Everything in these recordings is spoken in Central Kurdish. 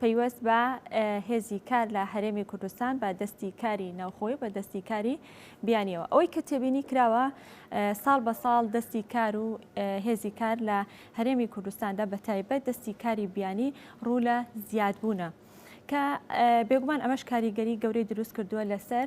پەیوەست بە هێزی کار لە هەرێمی کوردستان بە دەستی کاری ناوخۆی بە دەستی کاری بیانیەوە ئەوەی کە تێبینی کراوە ساڵ بە ساڵ دەستی کار و هێزی کار لە هەرێمی کوردستاندا بە تایبەت دەستی کاری بیانی ڕوو لە زیادبوونە کە بێگومان ئەمەش کاریگەری گەورەی دروست کردووە لەسەر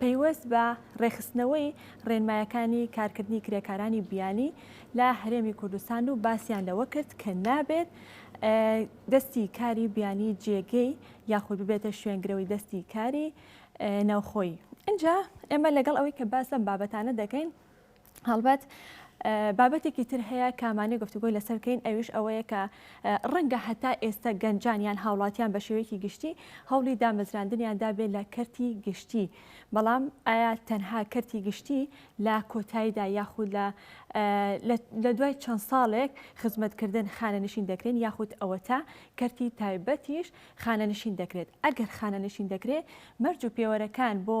پەیوەست بە ڕێکخستنەوەی ڕێنمایەکانی کارکردنی کرێکارانی بیانی لە هەرێمی کوردستان و باسییان لەوە کرد کە نابێت دەستی کاری بیانی جێگەی یاخود ببێتە شوێنگرەوەی دەستی کاری ناوخۆی. اینجا ئێمە لەگەڵ ئەوەی کە باس لەم بابەتانە دەکەین، هەڵبەت بابەتێکی تر هەیە کە مانێ گفتوگۆی لەسەر بکەین ئەویش ئەوەیە کە ڕەنگە هەتا ئێستا گەنجان یان هاوڵاتیان بە شێوەیەکی گشتی هەوڵی دامەزراندنیاندا بێ لە کەرتی گشتی بەڵام ئایا تەنها کەرتی گشتی لە کۆتاییدا یاخود لە لە دوای چەند ساڵێک خزمەتکردن خانەنشین دەکرێن یاخود ئەوەتا کەرتی تایبەتیش خانەنشین دەکرێت ئەگەر خانەنشین دەکرێت مەرج و پێوەرەکان بۆ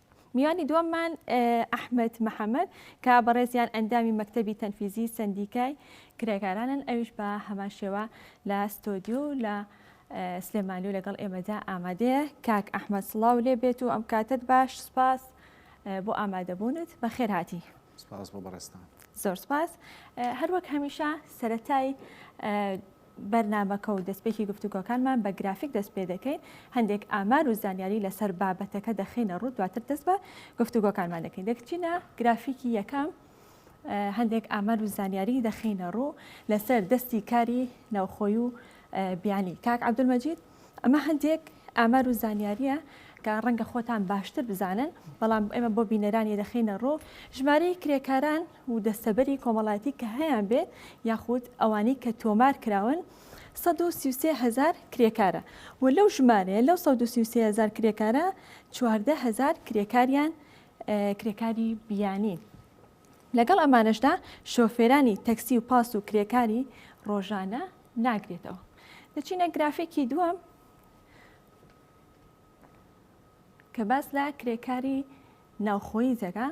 میوانی دووەممان ئەحمەد محەمەد کە بەڕێزیان ئەندامی مەکتەبی تەنفیزی سندیکای کرێکارانن ئەویش بە هەمان شێوە لە ستۆدیو لە سلێمانی و لەگەڵ ئێمەدا ئامادەیە کاک ئەحمد سڵاو لێ بێت و ئەم کاتت باش سپاس بۆ ئامادەبوونت بە خێرهاتی سپاس بۆ بەڕێستان زۆر سپاس هەروەک هەمیشە سەتای بەرنامەکە و دەستپێکی گفتوگۆکانمان بە گرافیک دەست پێ دەکەین، هەندێک ئامار و زانیاری لەسەر بابەتەکە دەخەینە ڕوو، دواتر دەست بە گفتوگۆکانمان دەکەین. دەگچینە گرافیکی یەکەم، هەندێک ئامار و زانیاری دەخەینە ڕوو لەسەر دەستی کاری ناوخۆی و بیانی کاک عەبدولمەجید. ئەمە هەندێک ئامار و زانیاریە کە ڕەنگە خۆتان باشتر بزانن بەڵام ئێمە بۆ بینەرانی دەخینە ڕۆ ژمارەی کرێکاران و دەستەبەری کۆمەڵایەتی کە هەیان بێت یاخود ئەوانی کە تۆمار کراون 193000 کرێکارە و لەو ژمارەیە لەو 193000 کرێکارە 14000 کرێکاریان کرێکاری بیانی لەگەڵ ئەمانشدا شۆفێرانی تەکسی و پاس و کرێکاری ڕۆژانە ناگرێتەوە دەچینە گرافێکی دووەم کە باس لە کرێکاری ناوخۆی زەگا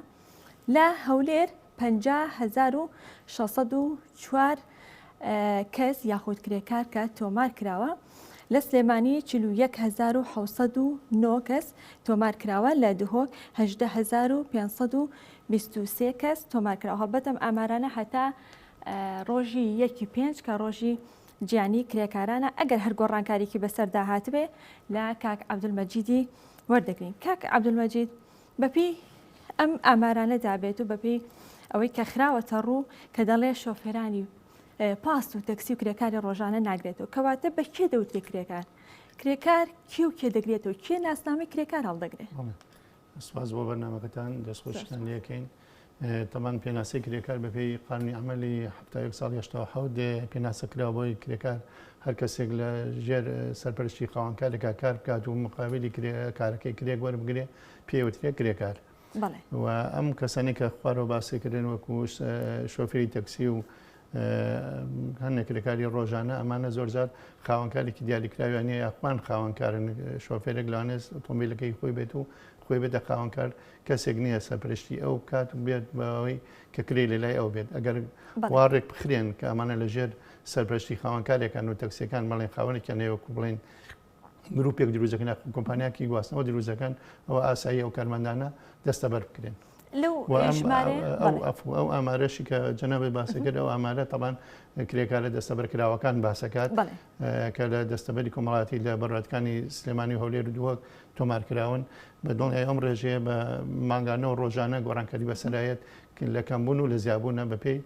لە هەولێر 51604 کەس یاخود کرێکار کە تۆمار کراوە لە سلێمانی 1970 کەس تۆمار کراوە لە دهۆک 1920 کەس تۆمار کراوە هەڵبەتم ئامارانە هەتا ڕۆژی یەک ی پێنج کە ڕۆژی جیانی کرێکارانە ئەگەر هەر گۆڕانکاریکی بەسەردا هاتبێ لە کاک عبدالمەجیدی وەردەگرین کاک عبدالمەجید بەپی ئەم ئامارانە دابێت و بەپی ئەوەی کە خراوەتە ڕوو کە دەڵێ شۆفێرانی پاس و تەکسی و کرێکاری ڕۆژانە ناگرێتەوە کەواتە بە کێ دەوتێ کرێکار کرێکار کێ و کێ دەگرێتەوە کێ ناسنامەی کرێکار هەڵدەگرێت سپاس بۆ بەرنامەکەتان دەست خۆشتان لەکەین تەمان پێناسەی کرێکار بەپێی قانونی عملی هەفتاەک ساڵ هشتا حوت پێناسە کرا بۆی کرێکار هەر کەسێک لە ژێر سەرپەرشتی قاوانکارێکا کار بکات و مقابلی کارەکەی کرێک وەربگرێ پێوترێ کرێکار و ئەم کەسانی کە خوارەوە باسیکردن وەکو شۆفری تەکسی و هەندێک کرێکاری ڕۆژانە ئەمانە زۆرجار خاوەنکارێکی دیاریکراویانە یاخمان خاوەنکارن شۆفێرێک لەوانێت ئۆتۆمبیلەکەی خۆی بێت و خۆی بێتە خاوەنکار کەسێک نییە سەرپشتی ئەو کات و بێت بەوەی کە کرێ لە لای ئەو بێت ئەگەر واڕێک بخرێن کە ئەمانە لەژێر سەرپشتی خاوەنکارێکان و تەکسەکان بەڵێن خاوەنێکیان نێوەکو بڵێن گروپێک دروزەکەن یاخود کۆمپانیاکی گواستنەوە دروزەکەن ئەوە ئاسایی ئەو کارمەندانە دەستە بەر بکرێن لەو ئەو ئامارەشی کە جەنابی باسەکرد ئەو ئامارە تەبان کرێکارە دەستەبەرکراوەکان باسەکات کە لە دەستەبەری کۆمەڵاتی لە بەڕاتکانی سلێمانی هەولێر دووەک تۆمارکراون بە دڵنیای ئەم ڕێژەیە بە مانگانە و ڕۆژانە گۆڕانکاری بەسەرایەت لە کەمبوون و لە زیابوونە بەپێی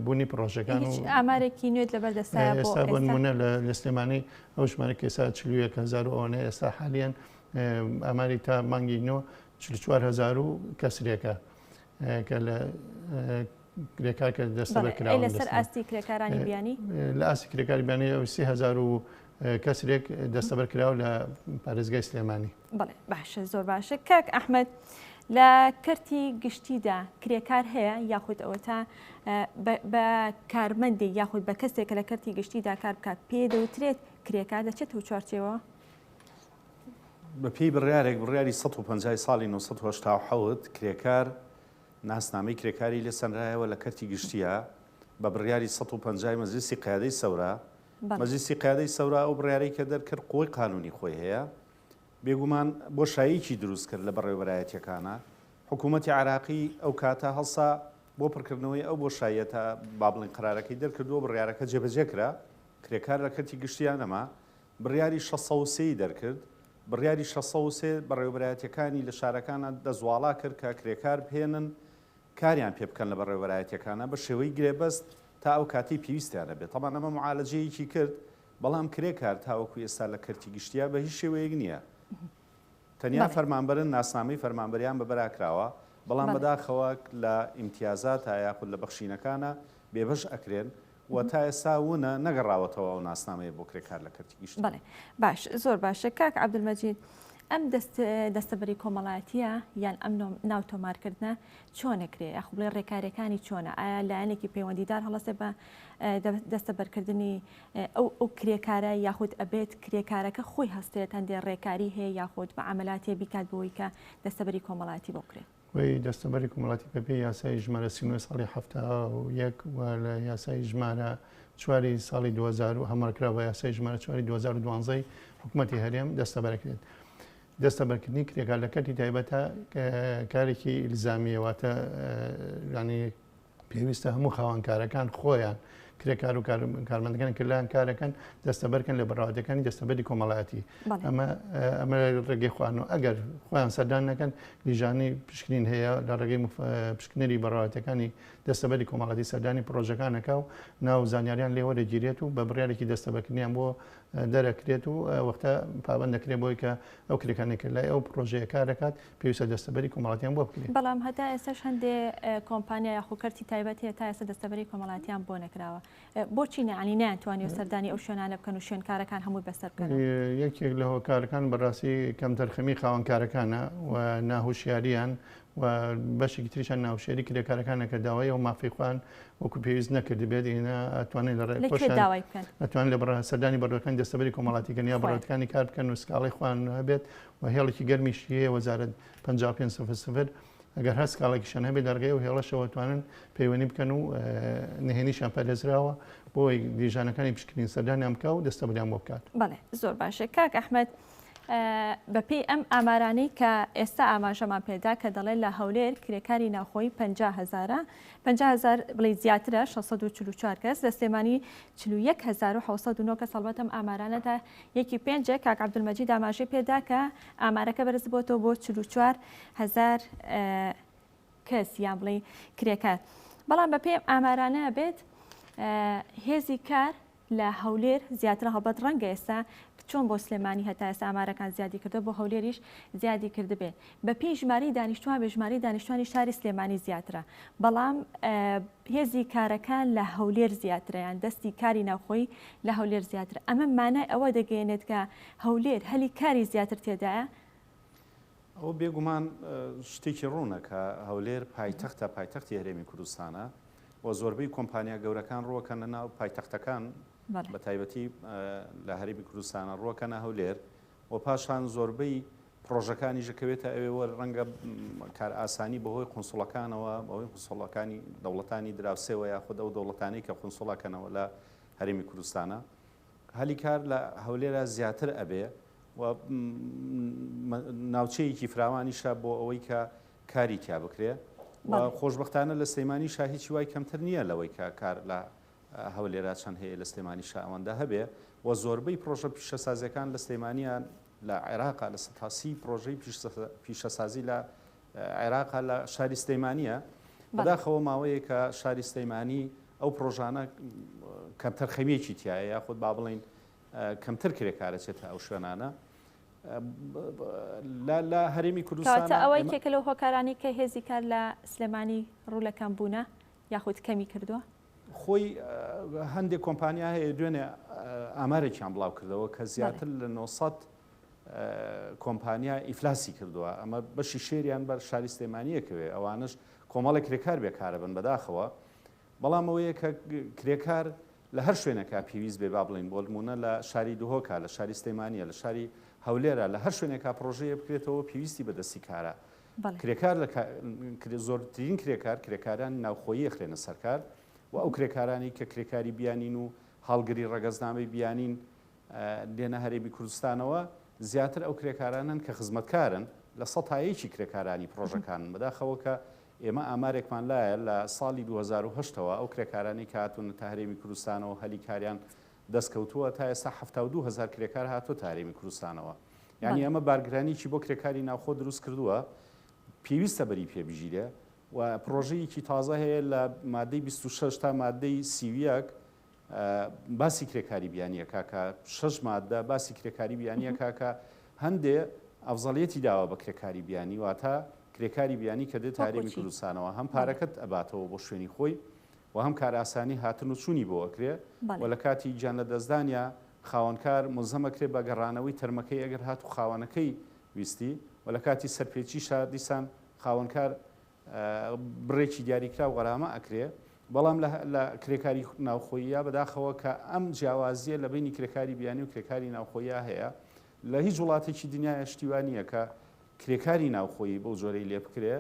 بوونی پڕۆژەکان و ئامارێکی نوێت لەبەر دەستایە بۆ ئێستا بۆنمونە لە سلێمانی ئەو ژمارە کەسا چلوویەک هزار و ئەوەنە ئێستا حالیان ئاماری تا مانگی نۆ چوار هزار و کەسرێکە کە لە کرێکار کە دەستە بەکرا لەسەر ئاستی کرێکارانی بیانی لە ئاستی کرێکاری بیانی ئەو سهزار و کەسرێک دەستەبەر کراوە لە پارێزگای سلێمانی بەڵێ باشە زۆر باشە کاک ئەحمد لە کەرتی گشتیدا کرێکار هەیە یاخود ئەوە تا بە کارمەندی یاخود بە کەسێک لە کەرتی گشتیدا کار بکات پێ دەوترێت کرێکار دەچێت و چوارچەوە بە پێی بڕارێک بڕیاری 150 ساڵی 1970 کرێکار ناسنامەی کرێکاری لێ سەنرایەوە لە کەرتی گشتیە بە بڕیاری 150 مەزلیسی قیادەی سەورە مەزیسی قیادەی سەورا ئەو بڕارەی کە دەرکرد قوی قانونی خۆی هەیە بێگومان بۆشاییکی دروست کرد لە بەڕێوەبەرایەتیەکانا، حکوومەتی عێراقی ئەو کاتە هەڵسا بۆ پڕکردنەوەی ئەو بۆشاییەتا با بڵێین قەرارەکەی دەرکردووە بڕیارەکە جێبەجێ کرا، کرێکار لە کەرتی گشتیا نەما، بڕیاری شەست سەد و سێ ی دەرکرد، بڕیاری شەست سەد و سێ بەڕێوەبەرایەتیەکانی لە شارەکانا دەستواڵا کرد کە کرێکار بهێنن کاریان پێ بکەن لە بەڕێوەبەرایەتیەکانا بە شێوەی گرێبەست تا ئەو کاتەی پێویستیان هەبێت، تەبعەن ئەمە معالەجەیەکی کرد بەڵام کرێکار تاوەکو ئێستا لە کەرتی گشتیا بە هیچ شێوەیەک نییە. تەنیا فەرمانبەرن ناسنامەی فەرمانبەریان بە بەرا کراوە، بەڵام بەداخەوە لە ئیمتیازاتە یاخود لە بەخشینەکانە بێبەش ئەکرێن و تا ئێستا ونە نەگەڕاوەتەوە ئەو ناسنامەیە بۆ کرێکار لە کەرتی گشتی. بەڵێ باش زۆر باشە کاک عەبدولمەجید ئەم دەست دەستەبەری کۆمەڵاتیە یان ئەم ناو تۆمارکردنە چۆنەکرێ یاخو بڵێ ڕێکارەکانی چۆنە ئایا لایەنێکی پەیوەندیدار هەڵەسێ بە دەستەبەرکردنی ئەو ئەو کرێکارە یاخود ئەبێت کرێکارەکە خۆی هەستێت هەندێک ڕێکاری هەیە یاخود بە عملاتێ بیکات بۆی کە دەستەبەری کۆمەڵاتی بۆ کرێت وی دەستەبەری کومەڵاتی پێ یاسای ژمارە سینوە ساڵی هەفتا و یەک و لە یاسای ژمارە چواری ساڵی 2000 و هەمەڵکرا بە یاسای ژمارە چواری 2012 حکوومەتتی هەرێم دەستەبەرەکرێت. دەستە بەرکردنی کرێکار لە کەتی تایبەتە کارێکی ئیلزامیەوەتە ینی پێویستە هەموو خاوەن کارەکان خۆیان کرێکار و کارمەندەکان کردیان کارەکەن دەستەبەرکەن لە بەڕادەکانی دەستەبەری کۆمەڵایەتی ئەمە ئەمە ڕێگەی خوان و ئەگەر خۆیان سەردان نەکەن لیژانی پشکنین هەیە لە ڕێگەی پشکنەری بەڕاتەکانی دەستەبەری کۆمەڵاتی سەردانی پرۆژەکانەکە و ناو زانیاریان لێوە دەگیرێت و بە بڕارێکی دەستەبەکردنیان بۆ دەرەکرێت و وەختە پابند دەکرێت بۆی کە ئەو کرێکانێک لای ئەو پرۆژەیە کار دەکات پێویستە دەستەبەری کۆمەڵاتیان بۆ بکرێت. بەڵام هەتا ئێستاش هەندێ کۆمپانیا یاخو کەرتی تایبەت هەیە تا ئێستا دەستەبەری کۆمەڵاتیان بۆ نەکراوە بۆچی نەعنی نیان توانیو سەردانی ئەو شوێنانە بکەن و شوێنکارەکان هەمووی بەسەر بکەن یەکێک لە هۆکارەکان بەڕاستی کەمتەرخەمی خاوەنکارەکانە و ناهوشیاریان و بەشێکی تریشان ناوشێری کرێکارەکانە کە داوای ئەو مافی خوان وەکو پێویست نەکرد بێت ئێنا ئەتوانێت لە ڕێداوایکەن ئەتوان لە بڕ سەردانی بەڕەکان دەستەبەری کۆمەڵاتیکەن یا بڕاتەکانی کار بکەن و سکاڵی خوان هەبێت و هێڵێکی گەرمیشی هەیە وەزارەت پەنجا و پێنج سفر سفر ئەگەر هەر سکاڵێکیشیان هەبێت لە ڕێگەی ئەو هێڵەشەوە ئەتوانن پەیوەندی بکەن و نهێنیشیان پارێزراوە بۆی لیژانەکانی پشکنین سەردانیان بکا و دەستەبریان بۆ بکات بەڵێ زۆر باشە کاک ئەحمد بەپێی ئەم ئامارانەی کە ئێستا ئاماژەمان پێدا کە دەڵێت لە هەولێر کرێکاری ناوخۆی 50 هزارە 50 هزار بڵی زیاترە 644 کەس لە سلێمانی 41900 کەس هەڵبەتەم ئامارانەدا یەکی پێنج ە کاک عبدالمجید ئاماژەی پێدا کە ئامارەکە بەرزبوەتەوە بۆ چل و چوار هەزار کەس یان بڵێ کرێکار بەڵام بە پێم ئامارانە بێت هێزی کار لە هەولێر زیاتر هەڵبەت ڕەنگە ئێستا چۆن بۆ سلێمانی هەتا ئێستا ئامارەکان زیادی کردو بۆ هەولێریش زیادی کردبێ بە پێی ژمارەی دانیشتوان بێ ژمارەی دانیشتوانی شاری سلێمانی زیاترە بەڵام هێزی کارەکان لە هەولێر زیاتریان دەستی کاری ناوخۆی لە هەولێر زیاتر ئەمە مانای ئەوە دەگەێنێت کە هەولێر هەلی کاری زیاتر تێدایە ئەو بێگومان شتێکی ڕوونە کە هەولێر پایتەختە پایتەختی هەرێمی کوردستانە و زۆربەی کۆمپانیا گەورەکان ڕووەکەنە ناو پایتەختەکان بە تایبەتی لە هەرێمی کوردستانە ڕووەکەنە هەولێر و پاشان زۆربەی پڕۆژەکانیش دەکەوێتە ئەوێ و ڕەنگە کارئاسانی بەهۆی قونسوڵەکانەوە بەهۆی قونسوڵەکانی دەوڵەتانی دراوسێەوە یاخود ئەو دەوڵەتانی کە قونسوڵەکەنەوە لە هەرێمی کوردستانە هەلی کار لە هەولێرە زیاتر ئەبێ و ناوچەیەکی فراوانیشە بۆ ئەوەی کە کاری تیا بکرێ و خۆشببختانە لە سلەیمانی شاهیچی وای کەمتر نییە لەوەی کە کار لە هەولێرا چەند هەیە لە سلێمانی شاوەندە هەبێ و زۆربەی پرۆژە پیشەسازیەکان لە سلەیمانیان لە عێراقە لە سەتا سی پرۆژەی پیشەسازی لە عێراقە لە شاری سلەیمانیە بەداخەوە ماوەیەکە شاری سلەیمانی ئەو پرۆژانە کەمتەر خەویەکی تایە یاخود با بڵین کەمتر کرێکارەچێتە ئەو شوێنانە لە هەرێمی کوردستان ئەوەی کێکە لەو هۆکارانی کە هێزی کار لە سلێمانی ڕوو لە کەم بوونە یاخود کەمی کردووە خۆی هەندێک کۆمپانیا هەیە دوێنێ ئامارێکیان بڵاو کردەوە کە زیاتر لە 900 کۆمپانیا ئیفلاسی کردووە ئەمە بەشی شێریان بەر شاری سلێمانیەکەوێ ئەوانش کۆمەڵی کرێکار بێکارە بن بەداخەوە بەڵام ئەوەیە کە کرێکار لە هەر شوێنەکە پێویست بێ با بڵین بۆ نمونە لە شاری دهۆکە لە شاری سلێمانە لە شاری هەولێرە لە هەر شوێنێکا پرۆژەیە بکرێتەوە پێویستی بەدەستی کارە کرێکار لە زۆرترین کرێکار کرێکارانی ناوخۆیی ئەخرێنە سەر کار و ئەو کرێکارانەی کە کرێکاری بیانین و هەڵگری ڕەگەزنامەی بیانین دێنە هەرێمی کوردستانەوە زیاتر ئەو کرێکارانەن کە خزمەتکارن لە سەد تا یەکی کرێکارانی پڕۆژەکانن بەداخەوە کە ئێمە ئامارێکمان لایە لە ساڵی دوو هەزار و هەشت ەوە ئەو کرێکارانی کە هاتوونەتە هەرێمی کوردستانەوە هەلی کاریان دەستکەوتووە تا ئێستا حەفتا و دوو هەزار کرێکار هاتووەتە هەرێمی کورستانەوە یانی بەڵێ. ئەمە بارگرانیەکی بۆ کرێکاری ناوخۆ دروست کردووە پێویستە بەری پێ بگیرێ و پڕۆژەیەکی تازە هەیە لە مادەی بیست و شەش تا مادەی سی و یەک باسی کرێکاری بیانی ئەکا کە شەش مادە باسی کرێکاری بیانی ئەکا کە هەندێ ئەفزەڵیەتی داوە بە کرێکاری بیانی واتە کرێکاری بیانی کە دێتە وەکو هەرێمی چی؟ کوردستانەوە هەم بەڵێ. پارەکەت ئەباتەوە بۆ شوێنی خۆی و هەم کارئاسانی هاتن و چوونی بۆ ئەکرێ و لە کاتی گیان لەدەستدانیا خاوەنکار مولزەم ئەکرێ بە گەڕانەوەی تەرمەکەی ئەگەر هاتوو خاوەنەکەی ویستی و لە کاتی سەرپێچیشا دیسان خاوەنکار بڕێکی دیاریکراو غەرامە ئەکرێ بەڵام لە کرێکاری ناوخۆییا بەداخەوە کە ئەم جیاوازیە لە بینی کرێکاری بیانی و کرێکاری ناوخۆییا هەیە لە هیچ وڵاتێکی دنیایە شتی وا نییە کە کرێکاری ناوخۆیی بەو جۆرەی لێ بکرێ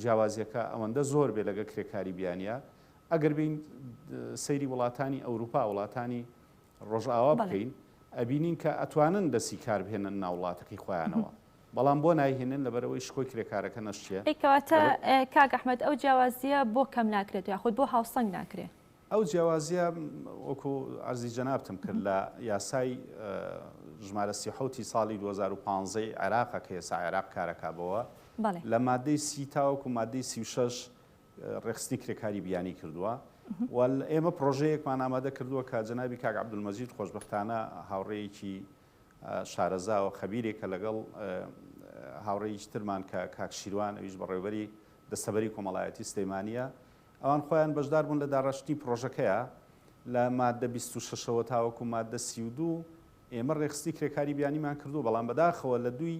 جیاوازیەکە ئەوەندە زۆر بێ لەگەل کرێکاری بیانیە ئەگەر بێین سەیری وڵاتانی ئەوروپا وڵاتانی ڕۆژئاوا بکەین ئەبینین کە ئەتوانن دەسی کار بهێنن ناو وڵاتەکەی خۆیانەوە بەڵام بۆ نایهێنن لەبەرئەوەی شکۆی کرێکارەکە نەشیە. ئەی کەواتە کاک ئەحمەد ئەو جیاوازیە بۆ کەم ناکرێت یاخود بۆ هاوسەنگ ناکرێ؟ ئەو جیاوازیە وەکو عەرزی جەنابتم کرد لە یاسای ژمارە سی و حەوت ی ساڵی دوو هەزار و پازدە ی عێراقە کە ئێستا عێراق کارەکا بەوە لە مادەی سی تاوەکو مادەی سی و شەش ڕێکخستنی کرێکاری بیانی کردووە و ئێمە پڕۆژەیەکمان ئامادە کردووە کە جەنابی کاک عەبدولمەجید خۆشبەختانە هاوڕێیەکی شارەزا و خەبیرێکە لەگەڵ هاوڕێیش ترمان کە کاک شیروان ئەویش بەڕێوبەری دەستەبەری کۆمەڵایەتی سلەیمانیە ئەوان خۆیان بەشدار بوون لە داڕشتنی پڕۆژەکەیا لە ماددە بیست و شەش ەوە تاوەکو ماددە سی و دوو ئێمە ڕێکخستنی کرێکاری بیانیمان کردووە بەڵام بەداخەوە لە دووی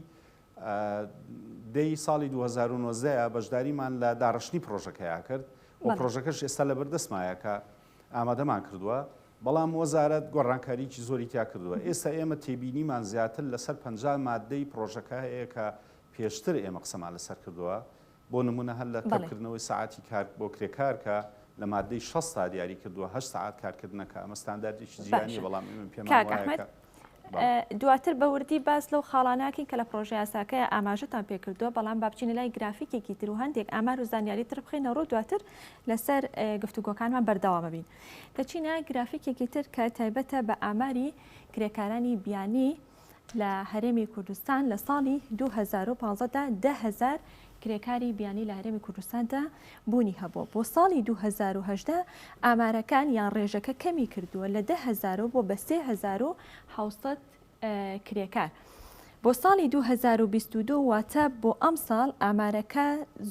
دەی ساڵی دوو هەزار و نۆزدە بەشداریمان لە داڕشتنی پڕۆژەکەیا کرد و بەڵێ پڕۆژەکەش ئێستا لەبەردەستمایە کە ئامادەمان کردووە بەڵام وەزارەت گۆڕانکاریی زۆری تیا کردووە مهم. ئێستا ئێمە تێبینیمان زیاتر لەسەر پەنجا ماددەی پڕۆژەکە هەیە کە پێشتر ئێمە قسەمان لەسەر کردووە بۆ نموونە هەر لە بەڵێ. کەمکردنەوەی سەعاتی کار بۆ کرێکار کە لە ماددەی شەست دا دیاری کردووە هەشت سەعات کارکردنە کە ئەمە ستانداردێکی جیهانییە باشە بەڵام ئێمە پێمان کاک وایە ئەحمەد کە بەڵێ. دواتر بە وردی باس لەو خاڵانە ئەکەین کە لە پڕۆژەیاساکەیا ئاماژەتان پێ کردووە بەڵام با بچینە لای گرافیکێکی تر و هەندێک ئامار و زانیاری تر بخەینە ڕوو دواتر لە سەر گفتوگۆکانمان بەردەوام ئەبین دەچینە گرافیکێکی تر کە تایبەتە بە ئاماری کرێکارانی بیانی لە هەرێمی کوردستان لە ساڵی دوو هەزار و پازدە دا دە هەزار کرێکاری بیانی لە هەرێمی کوردستاندا بوونی هەبووە، بۆ ساڵی دوو هەزار و هەژدە ئامارەکان یان ڕێژەکە کەمی کردووە لە دە هەزار و بووە بە سێ هەزار و حەوت سەد کرێکار بۆ ساڵی دوو هەزار و بیست و دوو، واتە بۆ ئەمساڵ ئامارەکە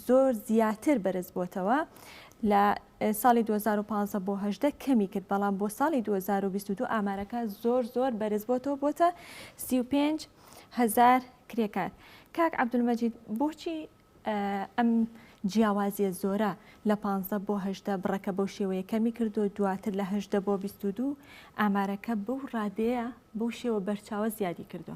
زۆر زیاتر بەرزبووەتەوە لە ساڵی دوو هەزار و پازدە بۆ هەژدە کەمی کرد، بەڵام بۆ ساڵی دوو هەزار و بیست و دوو ئامارەکە زۆر زۆر بەرز بۆتەوە بۆتە سی و پێنج هەزار کرێکار. کاک عەبدولمەجید بۆچی ئەم جیاوازیە زۆرە لە پانزدە بۆ هەژدە بڕەکە بەو شێوەیە کەمی کردو دواتر لە هەژدە بۆ بیست و دوو ئامارەکە بەو ڕادەیە بەو شێوە بەرچاوە زیادی کردوە؟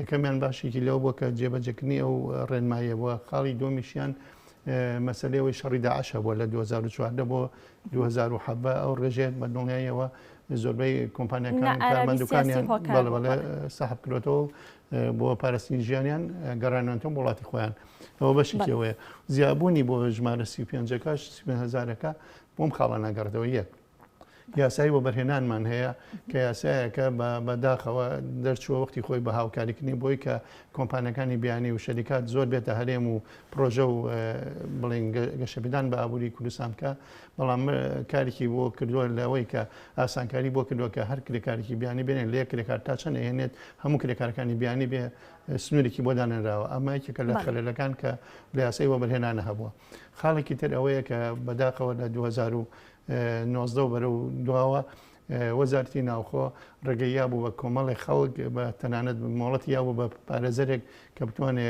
یەکەمیان باسێکی لەوە بووە کە جێبەجێکردنی ئەو ڕێنماییە بووە، خاڵی دووەمیشیان مەسەلەی ئەوەی شەڕی داعش هەبووە لە دوو هەزار و چواردە بۆ دوو هەزار و حەڤە، ئەو ڕێژەیە بە دڵنیاییەوە زۆربەی کۆمپانیاکان نە ئارامی کارمەندەکانیان سیاسی هۆکار بەڵێ بوو، بەڵێ بەڵێ. سەحب کرۆتەوە و بۆ پاراستنی ژیانیان گەڕانەوەتەوە بۆ وڵاتی خۆیان ئەوە بەشێکی بەڵێ. ئەوەیە زیابوونی بۆ ژمارە سی و پێنجەکەش سی و پێنج هەزارەکە بۆم خاڵە ناگەڕێتەوە یەک یاسای وەبەرهێنانمان هەیە کە یاسایەکە بە بە داخەوە دەرچووە وەختی خۆی بە هاوکاریکردنی بۆی کە کۆمپانیەکانی بیانی و شەریکات زۆر بێتە هەرێم و پرۆژە و بڵین گەشەپدان بە ئابووری کوردستان بکە بەڵام کارێکی بۆ کردووە لەوەی کە ئاسانکاری بۆ کردووە کە هەر کرێکارێکی بیانی بێنێت لێ کرێکار تا چەند هێنێت هەموو کرێکارەکانی بیانی بێ سنوورێکی بۆ دانراوە ئەمە یەکێکە لە خەلەکان کە لە یاسای وەبەرهێنانە هەبووە خاڵێکی تر ئەوەیە کە بەداخەوە لە 2000 نۆزدە و بەرەو دواوە وەزارتی ناوخۆ ڕێگەی یا بوو بە کۆمەڵی خەڵک بە تەنانەت مۆڵەتی یا بوو بە پارێزەرێک کە بتوانێ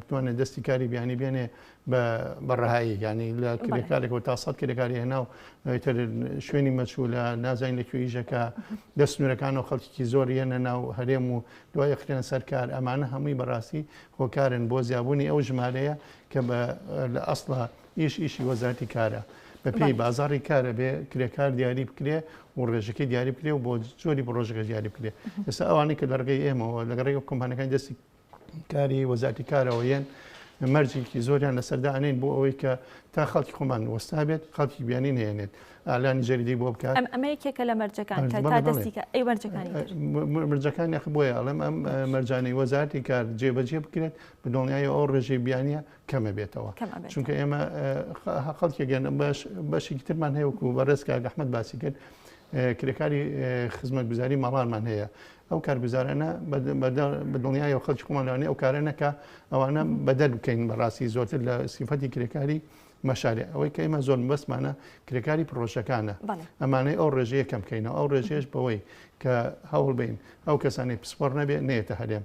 بتوانێت دەستی کاری بیانی بێنێ بە بەڕەهایی ینی لە کرێکارێک و تا سەد کرێکاری هێنا و تر شوێنی مەچوو لە نازانین لە کوێیژەکە دەست نورەکان و خەڵکیی زۆر یەنە ناو هەرێم و دوای خرێن سەرکار ئەمانە هەمووی بەڕاستی هۆکارن بۆ زیابوونی ئەو ژمارەیە کە لە ئەسڵە ئیش ئیشی وەزارەتی کارە بە پێی بازاری کارە بێ کرێکار دیاری بکرێ و ڕێژەکەی دیاری بکرێ و بۆ زۆری بە ڕۆژەکە دیاری بکرێ ئێستا ئەوانەی کە لەڕگەی ئێمەوە لەگەڕێک کۆمپانەکانی دەستی کاری وەزارەتی کارەوە یەن مەرجێکی زۆریان لەسەردا ئەنێن بۆ ئەوەی کە تا خەڵکی خۆمان وەستا بێت خەڵکی بیانی نێنێت ئالانی جەریدی بۆ بکە ئەمە یەکێکە لە مەرجەکان مرجەکان یخ بۆیە ئەڵم ئەم مەرجانەی وەزارتی کار جێبەجێ بکرێت بدڵنیایە ئەو ڕێژەی بیانە کەمە بێتەوە چونکە ئێمە خەڵکێکگەن باش بەشێکی ترمان هەیە وکو بە ڕێزکە گەحمد باسی کرد کرێکاری خزمەت گوزاری مەڕانمان هەیە ئەو کارگوزارانە بە دڵنیای و خەڵکی خۆمانوانی ئەو کارە نەکە ئەوانە بەدەر بکەین بەڕاستی زۆرتر لە سیفەتی کرێکاری مەشارێ ئەوەی کە ئمە زۆر بەسمانە کرێکاری پرۆژەکانە ئەمانەی ئەو ڕێژەیە کەم بکەینەوە ئەو ڕێژێش بەوەی کە هەوڵ بین ئەو کەسانی پسپۆر نەبێ نێتە هەرێم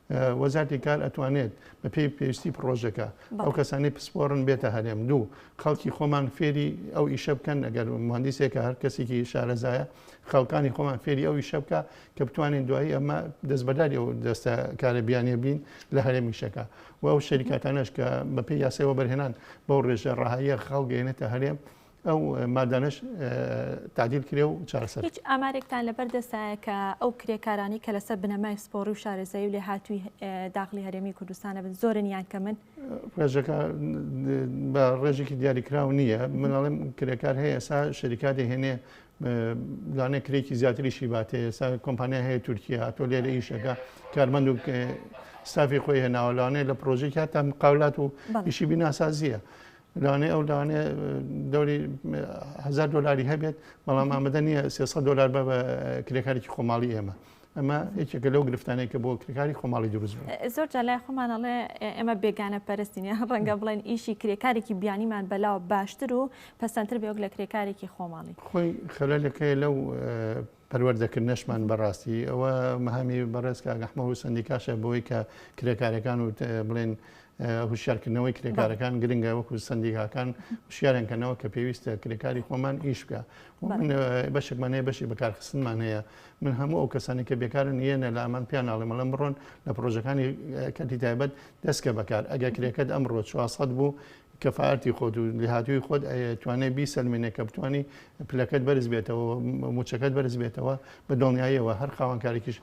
وەزارەتی کار ئەتوانێت بە پێی پێویستی پڕۆژەکە ئەو کەسانی پسپۆڕن بێتە هەرێم دوو خەڵکی خۆمان فێری ئەو ئیشە بکەن ئەگەر مهندسێکە هەر کەسێکی شارەزایە خەڵکانی خۆمان فێری ئەو ئیشە بکە کە بتوانین دوایی ئەمە دەست بەداری ئەو دەستە کارە بیانە بین لە هەرێمیشەکە و ئەو شەریکاتانەش کە بەپی یاسەوە بەرهێنان بەو ڕێژە ڕەهاییە خەڵگەێنێتە هەرێم ئەو مادانەش تعدیل کرێ و چارەسەر. هیچ ئامارێکتان لەبەر دەستە کە ئەو کرێکارانی کە لەسەر بنەمای پسپۆڕی و شارەزایی و لێهاتووی داخلی هەرێمی کوردستانە بن زۆرن یان کەمن ڕێژەکە بە ڕێژێکی دیاریکراو نییە مناڵم کرێکار هەیە ئێسا شەریکاتی هێنێ لانێ کرێکی زیاتری شیباتێ ئێستا کۆمپانیا هەیە تورکیا تۆ لێرە ئیشەکە کارمەند و ستافی خۆی هێناوە لانێ لە پرۆژێک هاتان قاولات و ئیشی بیناسازیە. لەوانەیە ئەو لەوانەیە دەوری هزار دلاری هەبێت بەڵام ئامادە نییە سێسە دلار بە بە کرێکارێکی خۆماڵی ئێمە. ئەمە یەکێکە لەو گرفتانەیە کە بۆ کرێکاری خۆماڵی دروست بوو. زۆر جا لای خۆمانەڵێ ئێمە بێگانە پەرستین یان ڕەنگە بڵێن ئیشی کرێکارێکی بیانیمان بەلاوە باشتر و پەسەندتر بێ وەک لە کرێکارێکی خۆماڵی. خۆی خەلەلەکەی لەو پەروەردەکردنەشمان بەڕاستی ئەوە مەهامی بەڕێز کاک ئەحمەد و سەندیکاشە بۆی کە کرێکارەکان و بڵێن هوشارکردنەوەی کرێکارەکان گرنگە وەکو سندیکاکان هوشیارن کەنەوە کە پێویستە کرێکاری خۆمان ئیش بکە بەشێکمان هەیە بەشی بەکارخستنمان هەیە من هەموو ئەو کەسانی کە بێکارن یەنە لە ئەمان پیان ناڵێمەڵم بڕۆن لە پرۆژەکانی کەتی تایبەت دەستکە بەکار ئەگە کرێکەت ئەمڕۆ 400 بوو کەفاءەتی خۆت و لێهاتوویی خۆت ئەتوانێت بیسەلمێنێت کە بتوانی پلەکەت بەرز بێتەوە و مووچەکەت بەرز بێتەوە بە دڵنیاییەوە هەر خاوەنکارێکیش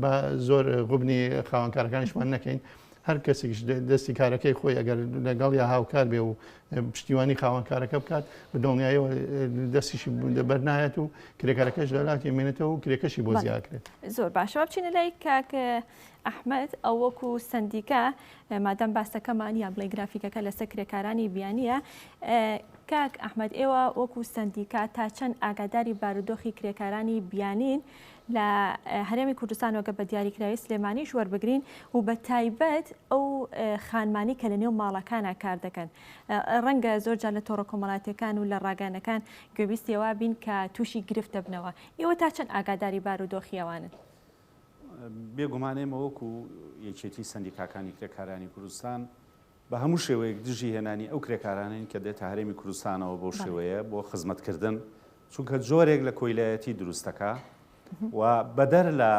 با زۆر غوبنی خاوەنکارەکانیشمان نەکەین هەر کەسێکیش دە- دەستی کارەکەی خۆی ئەگەر لەگەڵ یا هاوکار بێ و پشتیوانی خاوەنکارەکە بکات بە دڵنیاییەوە دەستیشی بەر نایەت و کرێکارەکەش لە لاتی مێنێتەوە و کرێکەشی بۆ بەڵێ. زیاد کرێت. زۆر باشەوە بچینە لای کاک ئەحمەد، ئەو وەکو سەندیکا، مادام باسەکەمان یان بڵێ گرافیکەکە لەسەر کرێکارانی بیانییە، کاک ئەحمەد ئێوە وەکو سەندیکا تا چەند ئاگاداری بارودۆخی کرێکارانی بیانین لە هەرێمی کوردستان وەگە بە دیاریکراوی سلێمانیش وەربگرین و بە تایبەت ئەو خانمانی کە لە نێو ماڵەکانە کار دەکەن ڕەنگە زۆر جار لە تۆڕە کۆمەڵاتەکان و لە ڕاگەنەکان گوێبیستیەوە بین کە تووشی گرفت دەبنەوە ئێوە تا چەند ئاگاداری بارودۆخیەوانن؟ بێ گومان ئێمە وەکو یەکێتی سەندیکاکانی کرێکارانی کوردستان بە هەموو شێوەیەک دژی هێنانی ئەو کرێکارانەین کە دێتە هەرێمی کوردستانەوە بەو شێوەیە بۆ خزمەت کردن چونکە جۆرێک لە کۆیلایەتی دروست دەکا و بەدەر لە